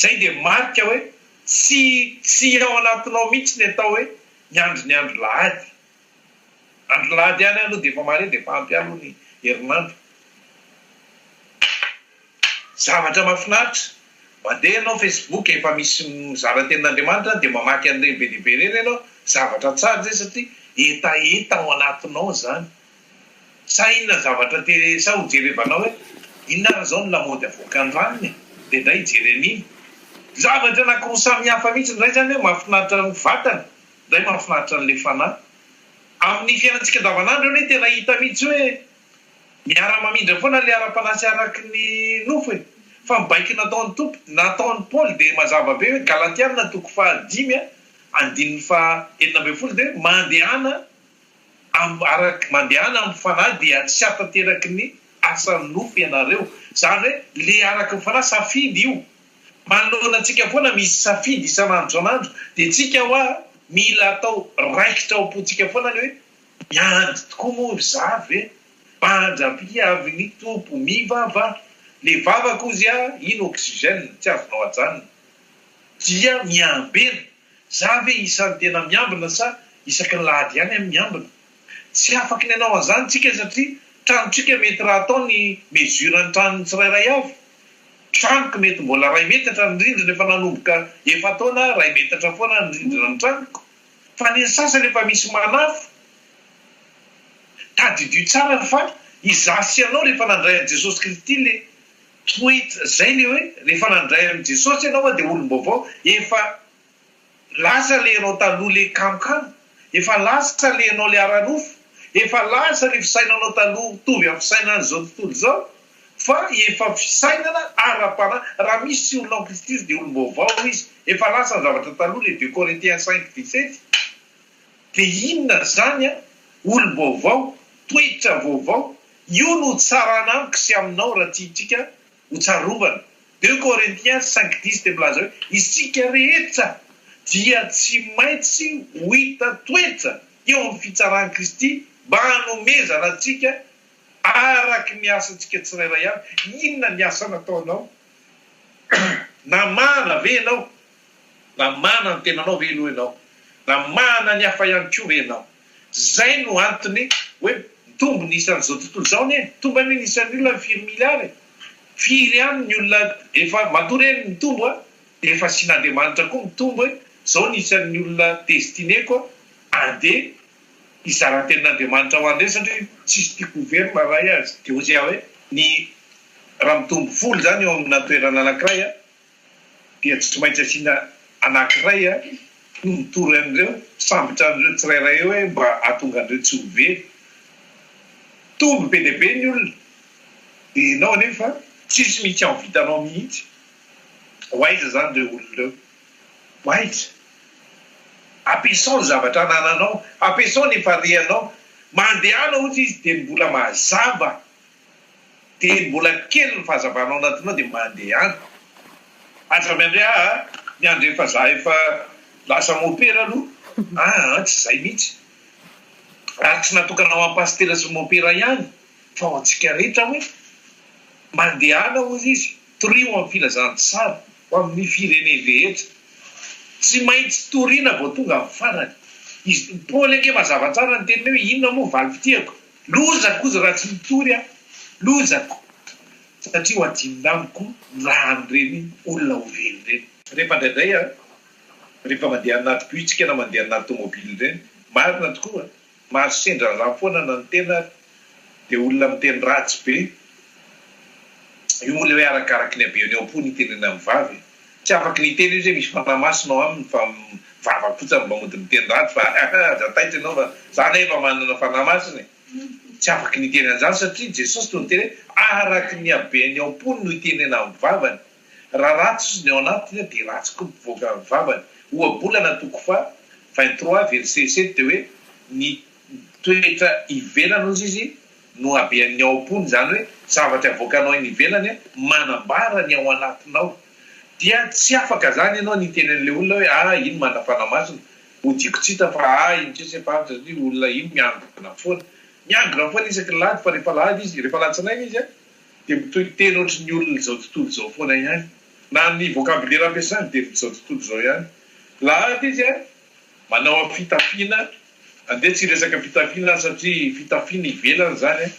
zay de marika hoe tsy tsy ao anatinao mihitsy ny atao hoe miandry ny andro lahady. Andro lahady ihany aloha dia efa mare dia efa ampy ihany moa ny herinandro. Zavatra mahafinaritra, mandeha ianao facebook efa misy mizara ny tenin'Andriamanitra dia mamaky an'ireny be dia be ireny ianao, zavatra tsara izay satria hetaheta ao anatinao izany. Sa inona ny zavatra te, sa ho jerevanao hoe inona ary izao ny lamaody avoakan'ny ranony e? dia indray hijery an'iny. Zavatra anakiroa samy hafa mihitsy, ny iray izany hoe mahafinaritra ny vatana, Ndray mahafinaritra an'ilay fanahy. Amin'ny fiainantsika andavanandro anie tena hita mihitsy hoe miara mamindra foana ilay ara-panahy sy araky ny nofo e! Fa ny baiko nataon'i Tompo, nataon'i Paoly dia mazava be hoe Galatiana toko faha dimy a, andininy faha enina ambin'ny folo dia hoe mandehana amin'ny araky mandehana amin'ny fanahy dia tsy hatanteraky ny asan'ny nofo ianareo. Izany hoe ilay araky ny fanahy safidy io Manoloana antsika foana misy safidy isan'andro isan'andro dia tsika hoa mila atao raikitra ao am-pontsika foana ny hoe, miandry tokoa moa ry za ve? Mandry ampy avy ny Tompo, mivavaha. Le vava kozy a, iny oxygène tsy azonao ajanona. Dia miambena, za ve isan'ny tena miambina sa isaky ny lahady ihany aho miambina? Tsy afaka ny hanao an'izany tsika satria tranotsika mety raha atao ny mesure ny tranon'ny tsirairay avy. Tranoko mety mbola iray metatra ny rindrina efa nanomboka efa-taona aho iray metatra foana ny rindrina ny tranoko fa ny ny sasany efa misy manafo. Tadidio tsara fa izaho sy ianao rehefa nandray an'i Jesosy Kristy le toet zay le hoe rehefa nandray an'i Jesosy ianao dia olom-baovao efa Lasa le enao taloha le kamkam, efa lasa le enao le ararofo, efa lasa le fisainanao taloha mitovy amin'ny fisainan'izao tontolo izao fa efa fisainana ara-panahy, raha misy olona en Kristy dia olom-baovao izy, efa lasa ny zavatra taloha, le deux Corinthiens cinq dix sept, dia inona izany an, olom-baovao, toetra vaovao, io no hitsarana amiko sy aminao raha tiantsika ho tsarovana. Deux Corinthiens cinq dix dia milaza hoe, Isika rehetra dia tsy maintsy ho hita toetra eo amin'ny fitsaran'i Kristy mba hanomezana antsika araka ny asantsika tsirairay avy. Inona ny asa nataonao? Namana ve ianao? Namahana ny tenanao ve aloha ianao? Namahana ny hafa ihany koa ve ianao? Izay no antony hoe mitombo ny isan'izao tontolo izao anie. Mitombo anie ny isan'ny olona ny firy miliara e! Firy ihany ny olona efa matoa re ny mitombo a! Dia efa asian'Andriamanitra koa mitombo hoe izao ny isan'ny olona destiné-ko a! Andeha hizara ny tenin'Andriamanitra ho an'ny rehetra satria tsisy tia goverina raha hay azy. Dia hoy aho hoe ny raha mitombo folo izany eo amina toerana anankiray a! dia tsy maintsy asiana anankiray torotoro an'ireo sambotra an'ireo tsirairay eo hoe mba hahatonga an'ireo tsy ho very. Mitombo be dia be ny olona dia ianao anefa tsisy mihitsy amin'ny vitanao mihitsy. Ho aiza izany ireo olona ireo? Ho aiza? Ampiasao ny zavatra anananao, ampiasao ny efa reanao. Mandehana ohatra izy dia mbola mazava. Dia mbola kely ny fahazavana ao anatinao dia mandeha any. Aza miandry ahy a! Miandry efa za efa lasa mopera aloha a! a! Tsy zay mihitsy. Ary tsy natokana ho an'i Pasitera sy mopera ihany fa ho antsika rehetra hoe, mandehana hozy izy, torio amin'ny filazantsara ho amin'ny fireneny rehetra. Tsy maintsy toriana vao tonga amin'ny farany. Izy Paoly ange mazava tsara ny teniny hoe inona moa ny valim-pitihako? Loza koza raha tsy mitory aho, loza ko satria ho adinona amiko ny rahan'ireny olona ho very ireny. Rehefa indraindray aho rehefa mandeha anaty bitsika na mandeha anaty tomobily ireny, marina tokoa mahazo sendra rà foana na ny tena ary dia olona miteny ratsy be, io moa ilay hoe arakaraky ny habeany ao am-po ny itenenan'ny vavy e. Tsy afaky niteny izy hoe misy fanahy masina ao aminy fa vava fotsiny no mba mody miteny ratsy fa ahh aza taitra ianao fa za anie efa manana fanahy masina e! Tsy afaky niteny an'izany satria Jesosy no niteny hoe araky ny habeany ao am-pony no itenenany ny vavany. Raha ratsy izy ny ao anatiny dia ratsy koa ny mpivoaka ny vavany. Ohabolana toko faha vingt trois verset sept dia hoe ny. Toetra ivelany ozy izy no habehan'ny ao am-pony, izany hoe zavatra avoakanao eny ivelany manambara ny ao anatinao. Dia tsy afaka izany ianao ny hiteny an'ilay olona hoe ah iny manafana masony, hodiako tsy hita fa ah iny sisa efa-avitra satria io olona iny miangona foana. Miangona foana isaky ny lahady fa rehefa lahady izy, rehefa alatsinainy izy an, dia mitohy teny ohatry ny olon'izao tontolo izao foana ihany. Na ny vokabilera ampiasany dia ny izao tontolo izao ihany. Lahady izy an! Manao a fitafiana, andeha tsy hiresaka fitafiana aho satria fitafiana ivelany izany a,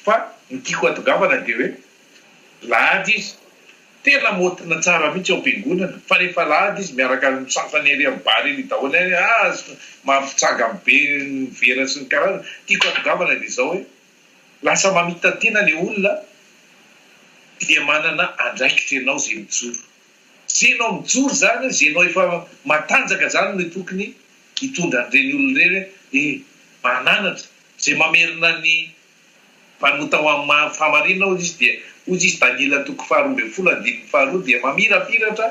fa ny tiako hatongavana dia hoe lahady izy, tena motina tsara mihitsy ao am-piangonana, fa rehefa lahady izy miaraka amin'ny sasany ery amin'ny bar ery daholo any hoe ah mampitsangany be ny vera sy ny karazany, tiako hatongavana dia izao hoe lasa mamita-tena ilay olona dia manana andraikitra ianao izay mijoro. Ze nao mijoro zany, ze nao efa matanjaka zany no tokony hitondra an'ireny olona ireny hoe eh mananatra, ze mamerina ny mpanota ho amin'ny maha fahamarinana hozy izy dia hozy izy Daniela toko faharoa ambin'ny folo andininy faharoa dia mamirapiratra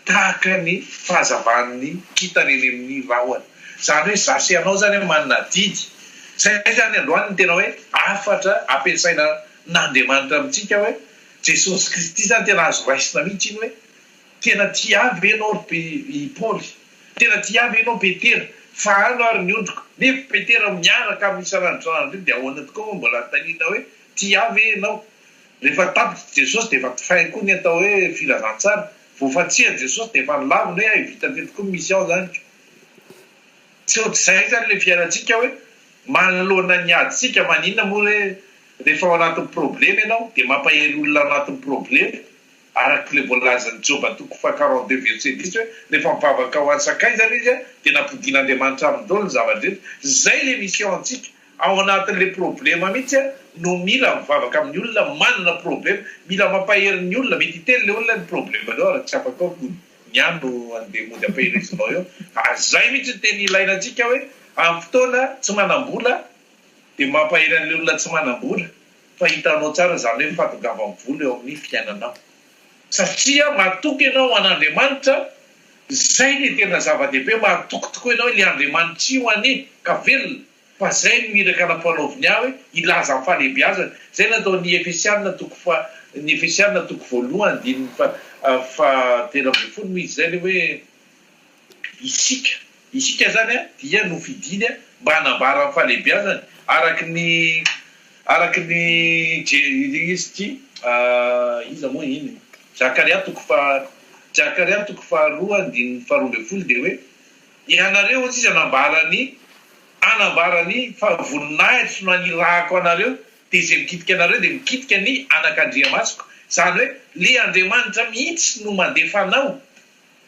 tahaka ny fahazavan'ny kintana eny amin'ny rahona, zany hoe za sy ianao zany manana adidy, zay zany androany ny tena hoe hafatra ampiasaina n'Andriamanitra amintsika hoe, Jesosy Kristy zany tena azo raisina mihitsy iny hoe tena tia ahy ve ianao ry pe i Paoly? Tena tia ahy ve ianao Petera? Fa ano ary ny ondriko. Nefa Petera miaraka aminy isan'andro isan'andro ndray dia ahoana tokoa moa mbola anontaniana hoe tia ahy ve ianao? Rehefa tapitra Jesosy dia efa fin koa ny atao hoe filazantsara. Vao fantsihan'i Jesosy dia efa nilavina hoe hay vita teto koa ny mission zaniko. Tsy ohatr'izay zany le fiainantsika hoe manoloana ny ady tsika maninona moa re Rehefa ao anatin'ny problema ianao dia mampahery olona anatin'ny problema, arak'ilay voalazan'i Joba toko faha-quarante-deux verset dix hoe rehefa mivavaka ho an'ny sakaizany izy dia nampodian'Andriamanitra aminy daholo ny zava-drehetra. Izay ilay misy ao amintsika, ao anatin'ilay problema mihitsy no mila mivavaka amin'ny olona manana problema, mila mampahery ny olona, mety hiteny ilay olona ny problemanao ary tsy afaka hoe mody ny ahy no andeha mody ampaherezinao eo ary izay mihitsy no tena ilaina antsika hoe amin'ny fotoana tsy manam-bola Dia mampahery an'ilay olona tsy manam-bola fa hitanao tsara izany hoe fahatongavan'ny vola eo amin'ny fiainanao. Satria matoky ianao an'Andriamanitra, izay dia tena zava-dehibe, matoky tokoa ianao ilay Andriamanitr'io anie ka velona, fa izay no iraka nampanaoviny ahy hoe hilaza ny fahalehibiazany. Izay no ataon'ny Efesiana toko fa, ny Efesiana toko voalohany andininy fa, fa telo ambin'ny folo moa izy izay ilay hoe. Isika. Isika izany dia nofidiny mba hanambara ny fahalehibiazany araka ny araka ny Je, izy ity iza moa iny? Zakaria toko faha, Zakaria toko faharoa andininy faharoa ambin'ny folo dia hoe, Ianareo hoy izy hanambara ny, hanambara ny fahavoninahitro nanirahako anareo, dia izay mikitika anareo dia mikitika ny anakandriamasoko, izany hoe le Andriamanitra mihitsy no mandefa anao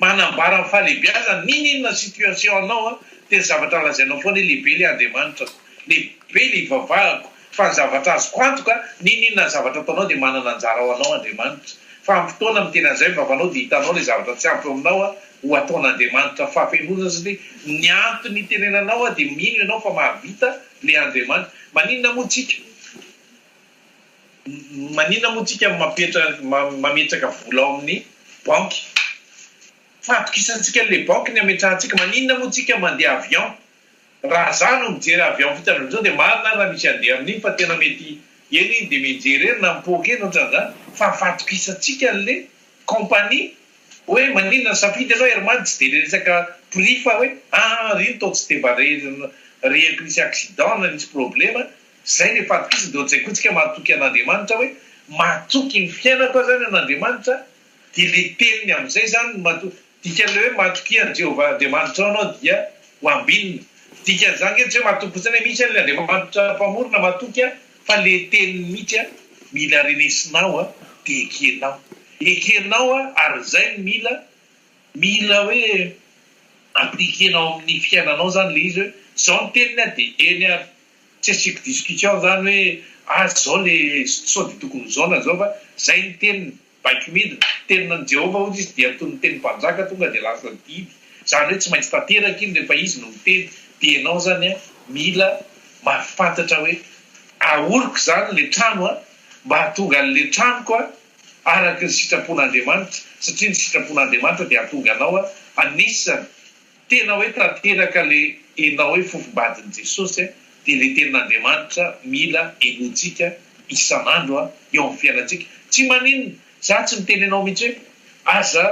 Manambara ny fahalehibeazany ninininona situation anao an, tena zavatra lazainao foana hoe lehibe ilay Andriamanitra, lehibe ilay ivavahako, fa ny zavatra azoko antoka ninininona ny zavatra ataonao dia manana anjara ho anao Andriamanitra, fa amin'ny fotoana miteny an'izay ny vavanao dia hitanao ilay zavatra tsy ampy eo aminao an, ho ataon'Andriamanitra fahafenoana satria ny antony hitenenanao an dia mino ianao fa mahavita ilay Andriamanitra, maninona moa tsika? Maninona moa tsika no mametraka vola ao amin'ny banky? Fahatokisantsika le banky ny ametrahantsika, maninona moa tsika mandeha avion? Raha za no mijery avion vita avy amin'izao dia marina raha misy andeha amin'iny fa tena mety eny iny dia mijery eny na mipoaka eny otran'izany fa fahatokisantsika anle compagnie oe maninona nisafidy ianao air man tsy dia resaka prix fa oe aa ry nto tsy dia mba re rehako nisy accident na nisy problema Izay no ifahatokisany dia ohatr'izay koa isika mahatoky an'Andriamanitra hoe mahatoky ny fiainako aho izany an'Andriamanitra dia ilay teniny amin'izay izany no mahatoky. Dikan'ilay hoe mahatokia an'i Jehovah Andriamanitrao ianao dia ho ambinina. Dikan'izany ange tsy hoe mahatoky fotsiny hoe misy ary ilay Andriamanitra Mpamory na mahatoky aho fa ilay teniny mihitsy aho mila renesinao dia ekenao. Ekenao ary izay no mila mila hoe appliquer-nao amin'ny fiainanao izany ilay izy hoe izao ny teniny dia eny ary Tsy asiako discussion zany hoe aza zao le sao de tokony zao na zao fa zay ny teniny, baiko midina, tenina an'i Jehovah ohatra izy dia toy ny tenin'ny mpanjaka tonga de lasa didy, zany hoe tsy maintsy tanteraka iny rehefa izy no miteny, dia ianao zany an mila mahafantatra hoe ahoriko zany le trano an mba hahatonga an'le tranoko an araka ny sitrapon'Andriamanitra satria ny sitrapon'Andriamanitra dia hahatonga anao an hanisany Tena hoe tanteraka le enao hoe fofom-badin'i Jesosy a, dia le tenin'Andriamanitra mila henointsika isan'andro a, eo amin'ny fiainantsika. Tsy maninona, za tsy miteny anao mihitsy hoe aza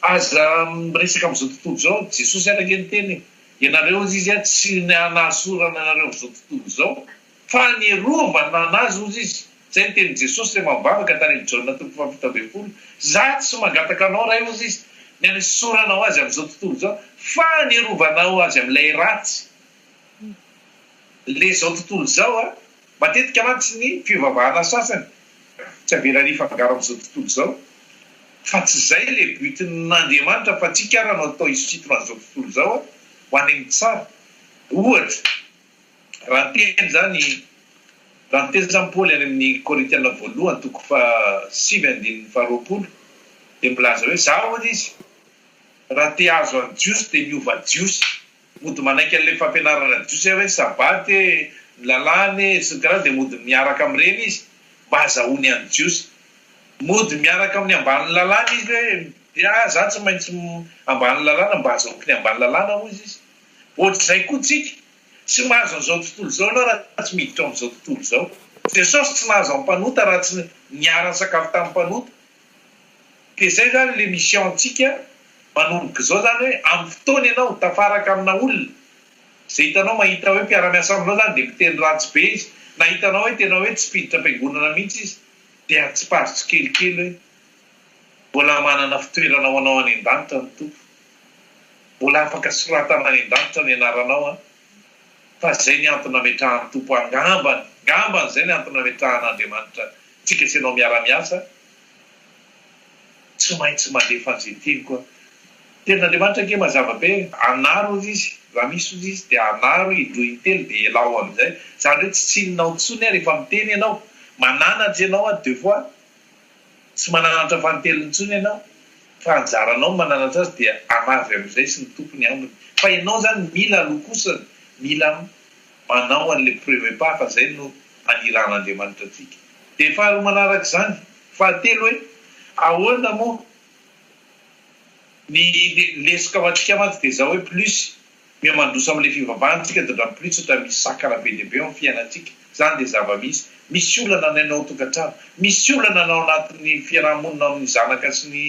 aza miresaka amin'izao tontolo izao, Jesosy ary ange niteny e, ianareo hozy izy a tsy nahasorana anareo amin'izao tontolo izao, Fa ny Rova nana azy hozy izy. Izay ny tenin'i Jesosy rehefa nivavaka tany amin'i Jaona toko fahafito ambin'ny folo, Za tsy mangataka anao Ray hozy izy, ny hanesoranao azy amin'izao tontolo izao, fa ny hirovanao azy amin'ilay ratsy, ilay izao tontolo izao a. Matetika mantsy ny fivavahana sasany tsy avelany hifangaro amin'izao tontolo izao, fa tsy izay ilay but-n'Andriamanitra fa antsika ara no atao hisintona an'izao tontolo izao a, ho any amin'ny tsara. Ohatra. Raha teny izany, raha niteny izany Paoly any amin'ny Korintiana voalohany toko faha sivy andininy faha roapolo dia milaza hoe, Izaho hoy izy, raha te hahazo an'ny Jiosy dia miova Jiosy. Mody manaiky an'ilay fampianarana Jiosy aho hoe Sabbaty e, ny lalàna e, sy ny tariny dia mody miaraka amin'ireny izy mba hazahoany an'ny Jiosy. Mody miaraka amin'ny ambanin'ny lalàna izy hoe, dia izaho tsy maintsy ambany lalàna mba hazahoako ny ambany lalàna hoy izy. Ohatr'izay koa tsika, tsy mahazo an'izao tontolo izao ianao raha tsy miditra ao amin'izao tontolo izao. Jesosy tsy nahazo an'ny mpanota raha tsy niara-nisakafo tamin'ny mpanota. Dia izay izany ilay mission antsika manomboka izao izany hoe amin'ny fotoana ianao tafaraka amina olona izay hitanao mahita hoe mpiara-miasa aminao izany dia miteny ratsy be izy na hitanao hoe tena hoe tsy mpiditra am-piangonana mihitsy izy dia atsipazo tsikelikely hoe mbola manana fitoerana ho anao any an-danitra ny Tompo. Mbola afaka soratana any an-danitra ny anaranao an! Fa zay ny antony nametrahan'ny Tompo ahy ngambany, ngambany zay ny antony nametrahan'Andriamanitra antsika sy anao miara-miasa, tsy maintsy mandefa an'izay teniko aho. Tenin'Andriamanitra ange mazava be, anaro ozy izy, raha misy ozy izy dia anaro indroa intelo dia elao amin'izay, zany hoe tsy tsininao intsony aho rehefa miteny ianao, mananatra ianao aho deux fois. Tsy mananatra fanintelony intsony ianao fa anjaranao ny mananatra azy dia anavy amin'izay sy ny tompony ambiny fa ianao izany mila aloha kosa mila manao an'ilay prevepa fa izay no aniran'Andriamanitra antsika. Dia faharoa manaraka izany, fahatelo hoe ahoana moa ny lesoka matrika mantsy dia izao hoe plus Mihamandroso amin'ilay fivavahana isika dia ndram plus ohatra misy sakana be dia be ao amin'ny fiainantsika. Izany dia zava-misy. Misy olana ny any ao an-tokantrano. Misy olana ny ao anatin'ny fiaraha-monina ao amin'ny zanaka sy ny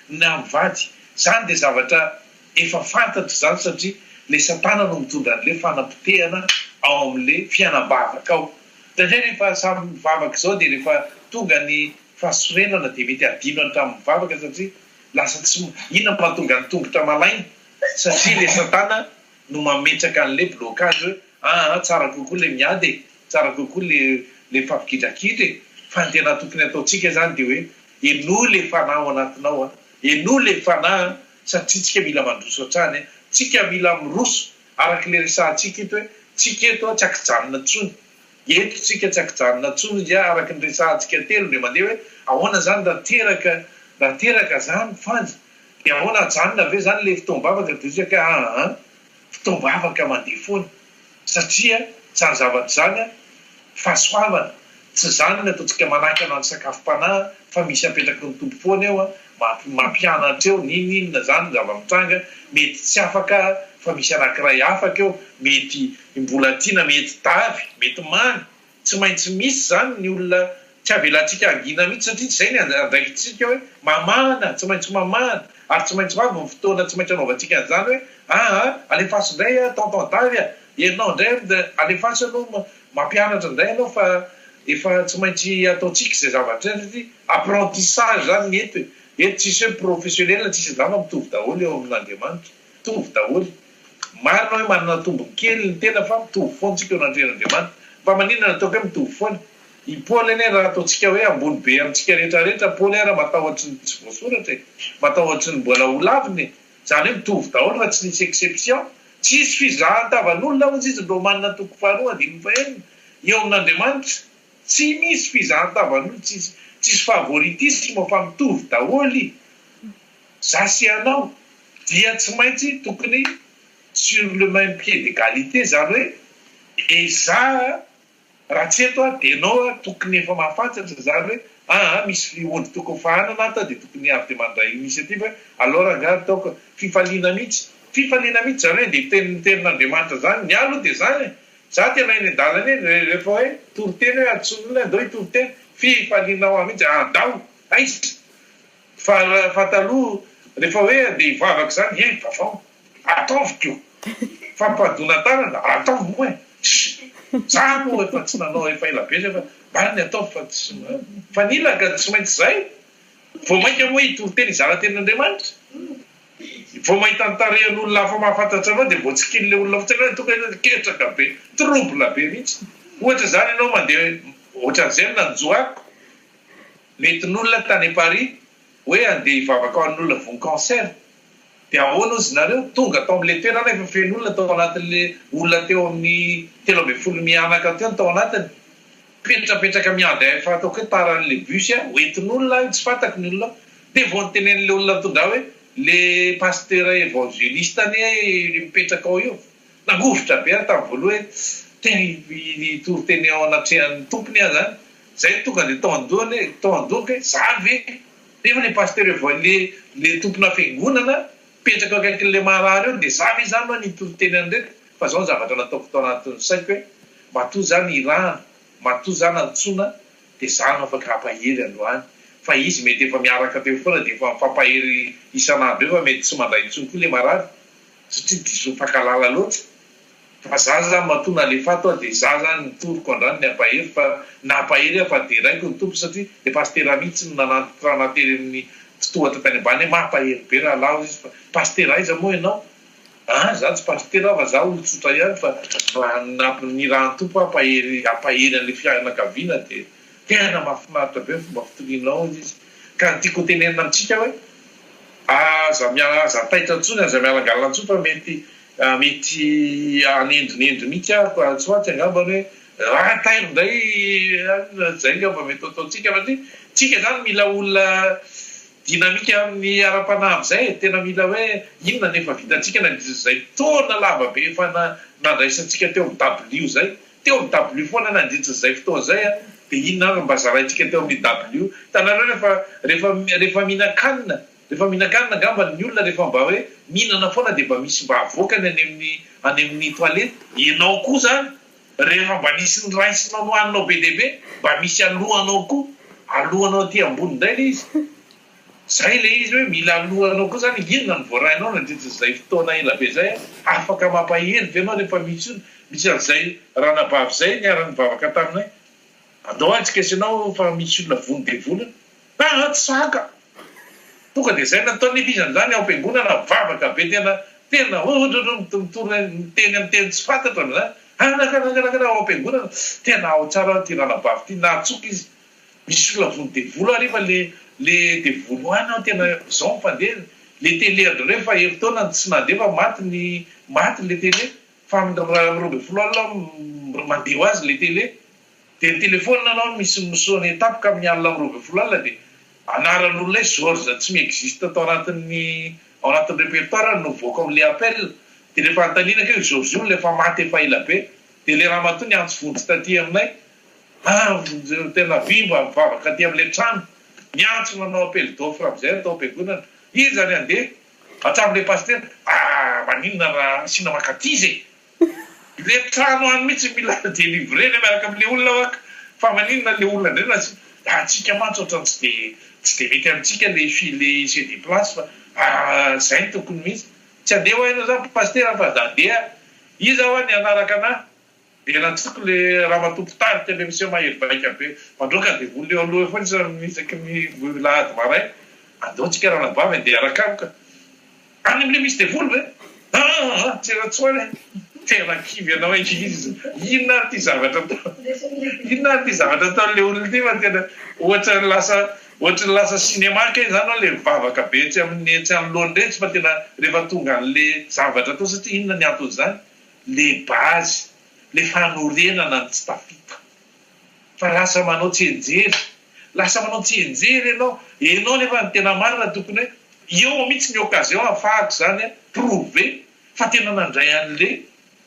na mivady. Izany dia zavatra efa fantatra izany satria ilay satana no mitondra an'ilay fanapotehana ao amin'ilay fianam-bavaka ao. Indraindray rehefa samy mivavaka izao dia rehefa tonga ny fahasorenana dia mety hadino hatramin'ny vavaka satria lasa tsy, inona no mahatonga ny tongotra malaina? Satria le satana no mametraka anle blocage aa tsara kokoa le miady e, tsara kokoa le le mifampigidrakidra e, fa ny tena tokony ataontsika zany de hoe henoy le fanahy ao anatinao a, henoy le fanahy a, satria tsika mila mandroso hatrany a, tsika mila miroso, arakle resahantsika eto hoe tsika eto a tsy akijanona tsony Eto tsika tsy akijanona tsony ndja araky ny resahantsika telo ndre mandeha hoe ahoana zany raha teraka raha teraka zany fanjy de ahoana ajanona ve zany le fotoam-bavaka de tsika ka aa fotoam-bavaka mandeha foana satria zany zavatra zany a fahasoavana tsy zany ny ataontsika manakana ny sakafom-panahy fa misy apetraky ny Tompo foana eo a mampi mampianatra eo n'in inona zany ny zava-mitranga mety tsy afaka fa misy anakiray afaka eo mety Ny mbola tiana mety tavy, mety mamy, tsy maintsy misy izany ny olona tsy avelantsika hangina mihitsy satria tsy izay ny andraikitsika hoe mamahana, tsy maintsy mamahana ary tsy maintsy ho avy ny fotoana tsy maintsy anaovantsika an'izany hoe aa alefaso indray a tonton tavy a, ianao indray ry alefaso aloha mampianatra indray ianao fa efa tsy maintsy ataontsika izay zavatra izay satria apprentissage izany ny eto e, eto tsisy hoe professionnel tsisy angamba mitovy daholo eo amin'Andriamanitra. Mitovy daholo. Marina hoe manana tombony kely ny tena fa mitovy foana tsika eo anatrehan'Andriamanitra. Fa maninona no ataoko hoe mitovy foana? I Paoly anie raha ataontsika hoe ambony be amintsika rehetra rehetra, Paoly ary matahotry ny tsy voasoratra e, matahotry ny mbola ho lavina e. Zany hoe mitovy daholo fa tsy nisy exception. Tsisy fizahan-tavan'olona hozy izy ny Romana toko faharoa andininy fahenina. Eo amin'Andriamanitra tsy misy fizahan-tavan'olona, tsisy tsisy favoritisme fa mitovy daholo i. Za sy ianao dia tsy maintsy tokony sur le même pied d'egalite zany hoe e za raha tsy eto aho dia ianao ary tokony efa mahafantatra zany hoe aa misy fihontry tokony fahanana ato aho dia tokony avy dia mandray initiative hoe alors angaha ataoko fifaliana mihitsy fifaliana mihitsy zany hoe le teny ny tenin'Andriamanitra zany ny ahy aloha dia zany e za tena eny an-dalana eny rehefa hoe toriteny hoe antsoin'olona hoe andao hitoriteny fifaliana ho ahy mihitsy andao aiza Fa fa taloha refa hoe andeha hivavaka izany hé vavao ataovy ko fampiadoana tanana ataovy moa e ssy za moa efa tsy nanao efa ela be zay fa marina e ataovy fa tsy mifanila ka tsy maintsy zay vao maika moa hitory teny hizara teny Andriamanitra vao mahita ny tarehin'olona hafa mahafantatra anao dia vao tsy kini'ilay olona fotsiny hoe tonga ianao dia ketraka be trouble be mihitsy ohatra izany ianao mandeha ohatran'izay no nanjo ahy Mety nolona tany Paris hoe andeha hivavaka ho an'olona voa cancer dia ahoana ozy nareo tonga tao amin'ilay toerana efa feno olona tao anatin'ilay olona teo amin'ny telo ambin'ny folo mianaka teo no tao anatiny mipetrapetraka miandry ahy efa ataoko hoe tara an'ilay bus a ho entin'olona aho tsy fantako ny olona ao dia vao notenenin'ilay olona nitondra ahy hoe le pasteur evangeliste anie le mipetraka ao io nangovitra be aho tamin'ny voaloha hoe tena hitory teny ao anatrehan'ny tompony aho zany Zay tonga de tao andohany e, tao andohako e, za ve? Nefa le pasteur evo le le tompona fiangonana mipetraka eo akaikinle marary eo de za ve zany no nitory teny an'ireto fa zao ny zavatra nataoko tao anatin'ny saiko hoe matoa za no irahana, matoa za no antsoina de za no afaka hampahery androany fa izy mety efa miaraka teo foana de efa mifampahery isan'andro eo fa mety tsy mandray intsony koa le marary satria diso mifankalala loatra. Fa za zany matoa nalefato aho dia za zany nitoroko andrany ny ampahery fa nampahery aho fa deraiko ny Tompo satria le Pastera mitsy no nanantitra anah tery aminy fitohatra tany ambany hoe mampahery be rahalahy izy fa Pastera aiza moa enao an za tsy Pastera aho fa za olotsotra ihany fa raha namp ny raha ny Tompo hampahery hampahery anle fianakaviana dia tena mafinaritra be ny fomba fitorianao hoy izy ka ny tiako hotenenina amitsika hoe aza miala aza taitra intsony aza miala angalana intsony fa mety Mety hanendonendo mihitsy aho fa tsy maintsy angamba ny hoe raha tairo indray an, izay angamba mety ho ataontsika satria tsika izany mila olona dynamique amin'ny ara-panahy amin'izay e, tena mila hoe inona no efa vitantsika na dia izay taona lava be efa nandraisantsika teo amin'ny dabilio izay, teo amin'ny dabilio foana nandritra izay fotoana izay an, dia inona ary no mba zaraintsika teo amin'ny dabilio, hitanareo rehefa rehefa rehefa mihinan-kanina. Efa mihinan-kanina angambany ny olona rehefa mba hoe mihinana foana dia mba misy mba avoakany any amin'ny any amin'ny toilette. Ianao koa izany rehefa mba nisy niraisinao nohaninao be dia be mba misy alohanao koa, alohanao aty ambony indray ilay izy. Izay ilay izy hoe mila alohanao koa izany, inona no voarainao nandritra izay fotoana ela be izay an? Afaka mampahery ve ianao rehefa misy olona, misy an'izay ranabavy izay niara-nivavaka taminay, andao aho hijika sy ianao fa misy olona vono dia vonona, Mpantsaka! Tonga dia izay nataon'i Elisa amin'izany ao am-piangonana, mivavaka be tena, tena ohotrotrotrotra, mitory miteny amin'ny teny tsy fantatro amin'izany, anakanakanakana ao am-piangonana, tena ao tsara aho ity ranabavy ity, nahatsoaka izy, misy olona vono devoly hariva le, le devoly any aho tena izao mifandeha, le tele an-dry nareo efa herintaona no tsy nandeha fa maty ny, maty le tele, fa amin'ny roa ambin'ny folo alina aho mandeha ho azy le tele. Dia nitelefônina anao misy misonia tampoka amin'ny alina amby roa ambin'ny folo alina dia anaran'olona hoe Georges tsy mi-existe tao anatin'ny ao anatin'ny repertoire-ny no mivoaka ao amin'ilay appel dia rehefa anontaniana ka io Georges io ilay efa maty efa ela be dia ilay ramatoa niantso vonjy taty aminay an! tena vy mba mivavaka aty amin'ilay trano niantso nanao appel d'offre amin'izay atao am-piangonana iza ny handeha hatramin'ilay pasitera ah! maninona raha asiana mankaty izy e! Le trano any mitsy mila delivrena miaraka am le olona wak fa maninona le olona ndray raha tsy atsika mantsy otrany tsy de tsy de mety amitsika le file ise de place fa ahh zay no tokony mitsy tsy andeha wa enao za pasitera fa za dea iza wa ny anaraka ana de ratsoko le ramatoa mpitarika le miseho mahery vaika be mandroaka devoly eo aloha eo foana isaky ny alahady maray andao tsika ranabavy andeha araka aloka. Any amin'ilay misy devoly ve? Aa! Tsy Ratswany a! Tena kivy ianao ankizy! Inona ary ity zavatra atao, inona ary ity zavatra ataon'ilay olona ity fa tena ohatra ny lasa, ohatra ny lasa cinéma kay izany hoe ilay vavaka be etsy amin'ny etsy anoloany iretsy fa tena rehefa tonga an'ilay zavatra atao satria inona ny anton'izany? Ilay base, ilay fanorenana ny tsy tafita. Fa lasa manao tsianjery. Lasa manao tsianjery ianao. Ianao nefa ny tena marina tokony hoe eo mihitsy ny occasion hahafahako izany a prouver fa tena nandray an'le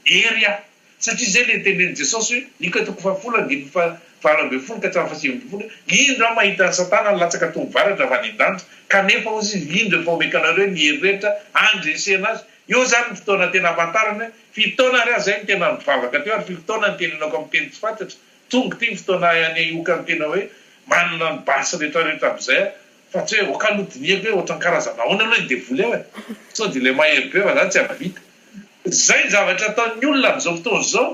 hery aho. Satria izay le tenen'i Jesosy hoe, Nika toko fahafolo andininy fahavalo ambin'ny folo ka hatramin'ny fahasivy ambin'ny folo hoe, Indro aho mahita an'i Satana nilatsaka toa ny varatra avy any an-danitra, kanefa hozy izy, indro efa omeko anareo ny hery rehetra handresena azy, Io izany no fotoana tena hahafantarany hoe firy taona ary aza izy no tena nivavaka teo ary firy taona no tena hinoako amin'ny teny tsy fantatry. Tonga ity ny fotoana ahay hanehoka ny tena hoe manana ny basy rehetrarehetra amin'izay aho fa tsy hoe ok aloha dinihako hoe ohatran'ny karazana ahoana aloha ilay devoly ao e! Sao dia ilay mahery be fa za tsy hahavita. Izay ny zavatra ataon'ny olona amin'izao fotoana izao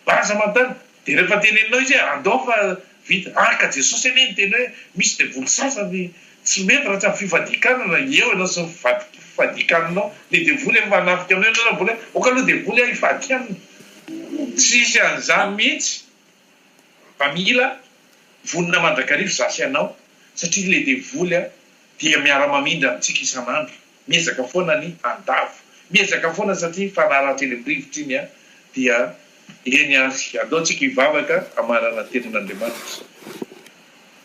Aza manontany, dia rehefa teneninao izy hoe andao fa vita, araka Jesosy anie ny teny hoe misy devoly sasany tsy mety raha tsy amin'ny fifadikanana, eo ianao sy ny fifadikananao, ny devoly efa hanafika anao ianao raha mbola hoe ok aloha devoly ah hifadika aminy, tsy hisy an'izany mihitsy fa mila vonona mandrakariva za sy ianao satria ilay devoly dia miara-mamindra amintsika isan'andro. Miezaka foana ny handavo. Miezaka foana satria fanarahan-teny amin'ny rivotra iny an! Dia eny ary, andao tsika hivavaka hamarana ny tenin'Andriamanitra.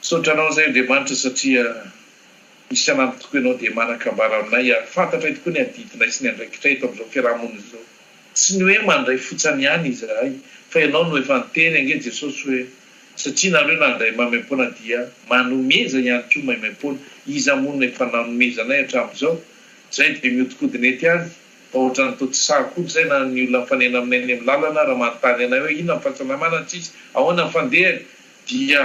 Misaotra anao izay Andriamanitra satria isan'andro tokoa ianao dia manan-kambara aminay ary fantatray tokoa ny adidinay sy ny andraikitray eto amin'izao fiaraha-monina izao. Tsy ny hoe mandray fotsany ihany izahay fa ianao no efa niteny ange Jesosy hoe Satria nareo nandray maimaimpoana dia manomeza ihany koa maimaimpoana, iza moa no efa nanomezanay hatramin'izao? Zay dia miodikodina ety any, fa ohatran'ny toa tsy sahy akory zay na ny olona mifanena aminay eny amin'ny lalana raha manontany anay hoe inona ny fahasalamana ts'izy, ahoana ny fandehany? dia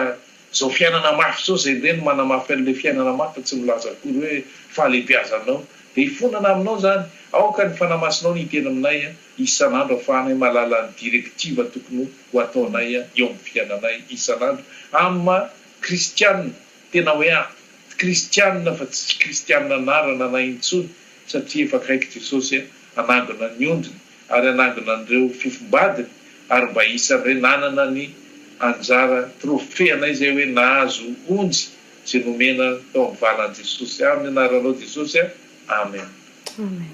zao fiainana mafy zao, zay indray no manamafy an'ilay fiainana mafy fa tsy milaza akory hoe fahalebiazanao, dia hifonana aminao zany, aoka ny fanahy masinao no hiteny aminay an! isan'andro afahanay mahalala ny direktiva tokony ho ataonay eo amin'ny fiainanay isan'andro amin'ny maha kristiana tena hoe ahy kristiana fa tsy tsy kristiana anarana anay intsony satria efa akaiky Jesosy hanangona ny ondriny ary hanangona an'ireo fofombadiny ary mba isan'ireny nanana ny anjara trophée anay izay hoe nahazo onjy izay nomena tao amin'ny valan'i Jesosy amin'ny anaranao Jesosy Amen. Amen.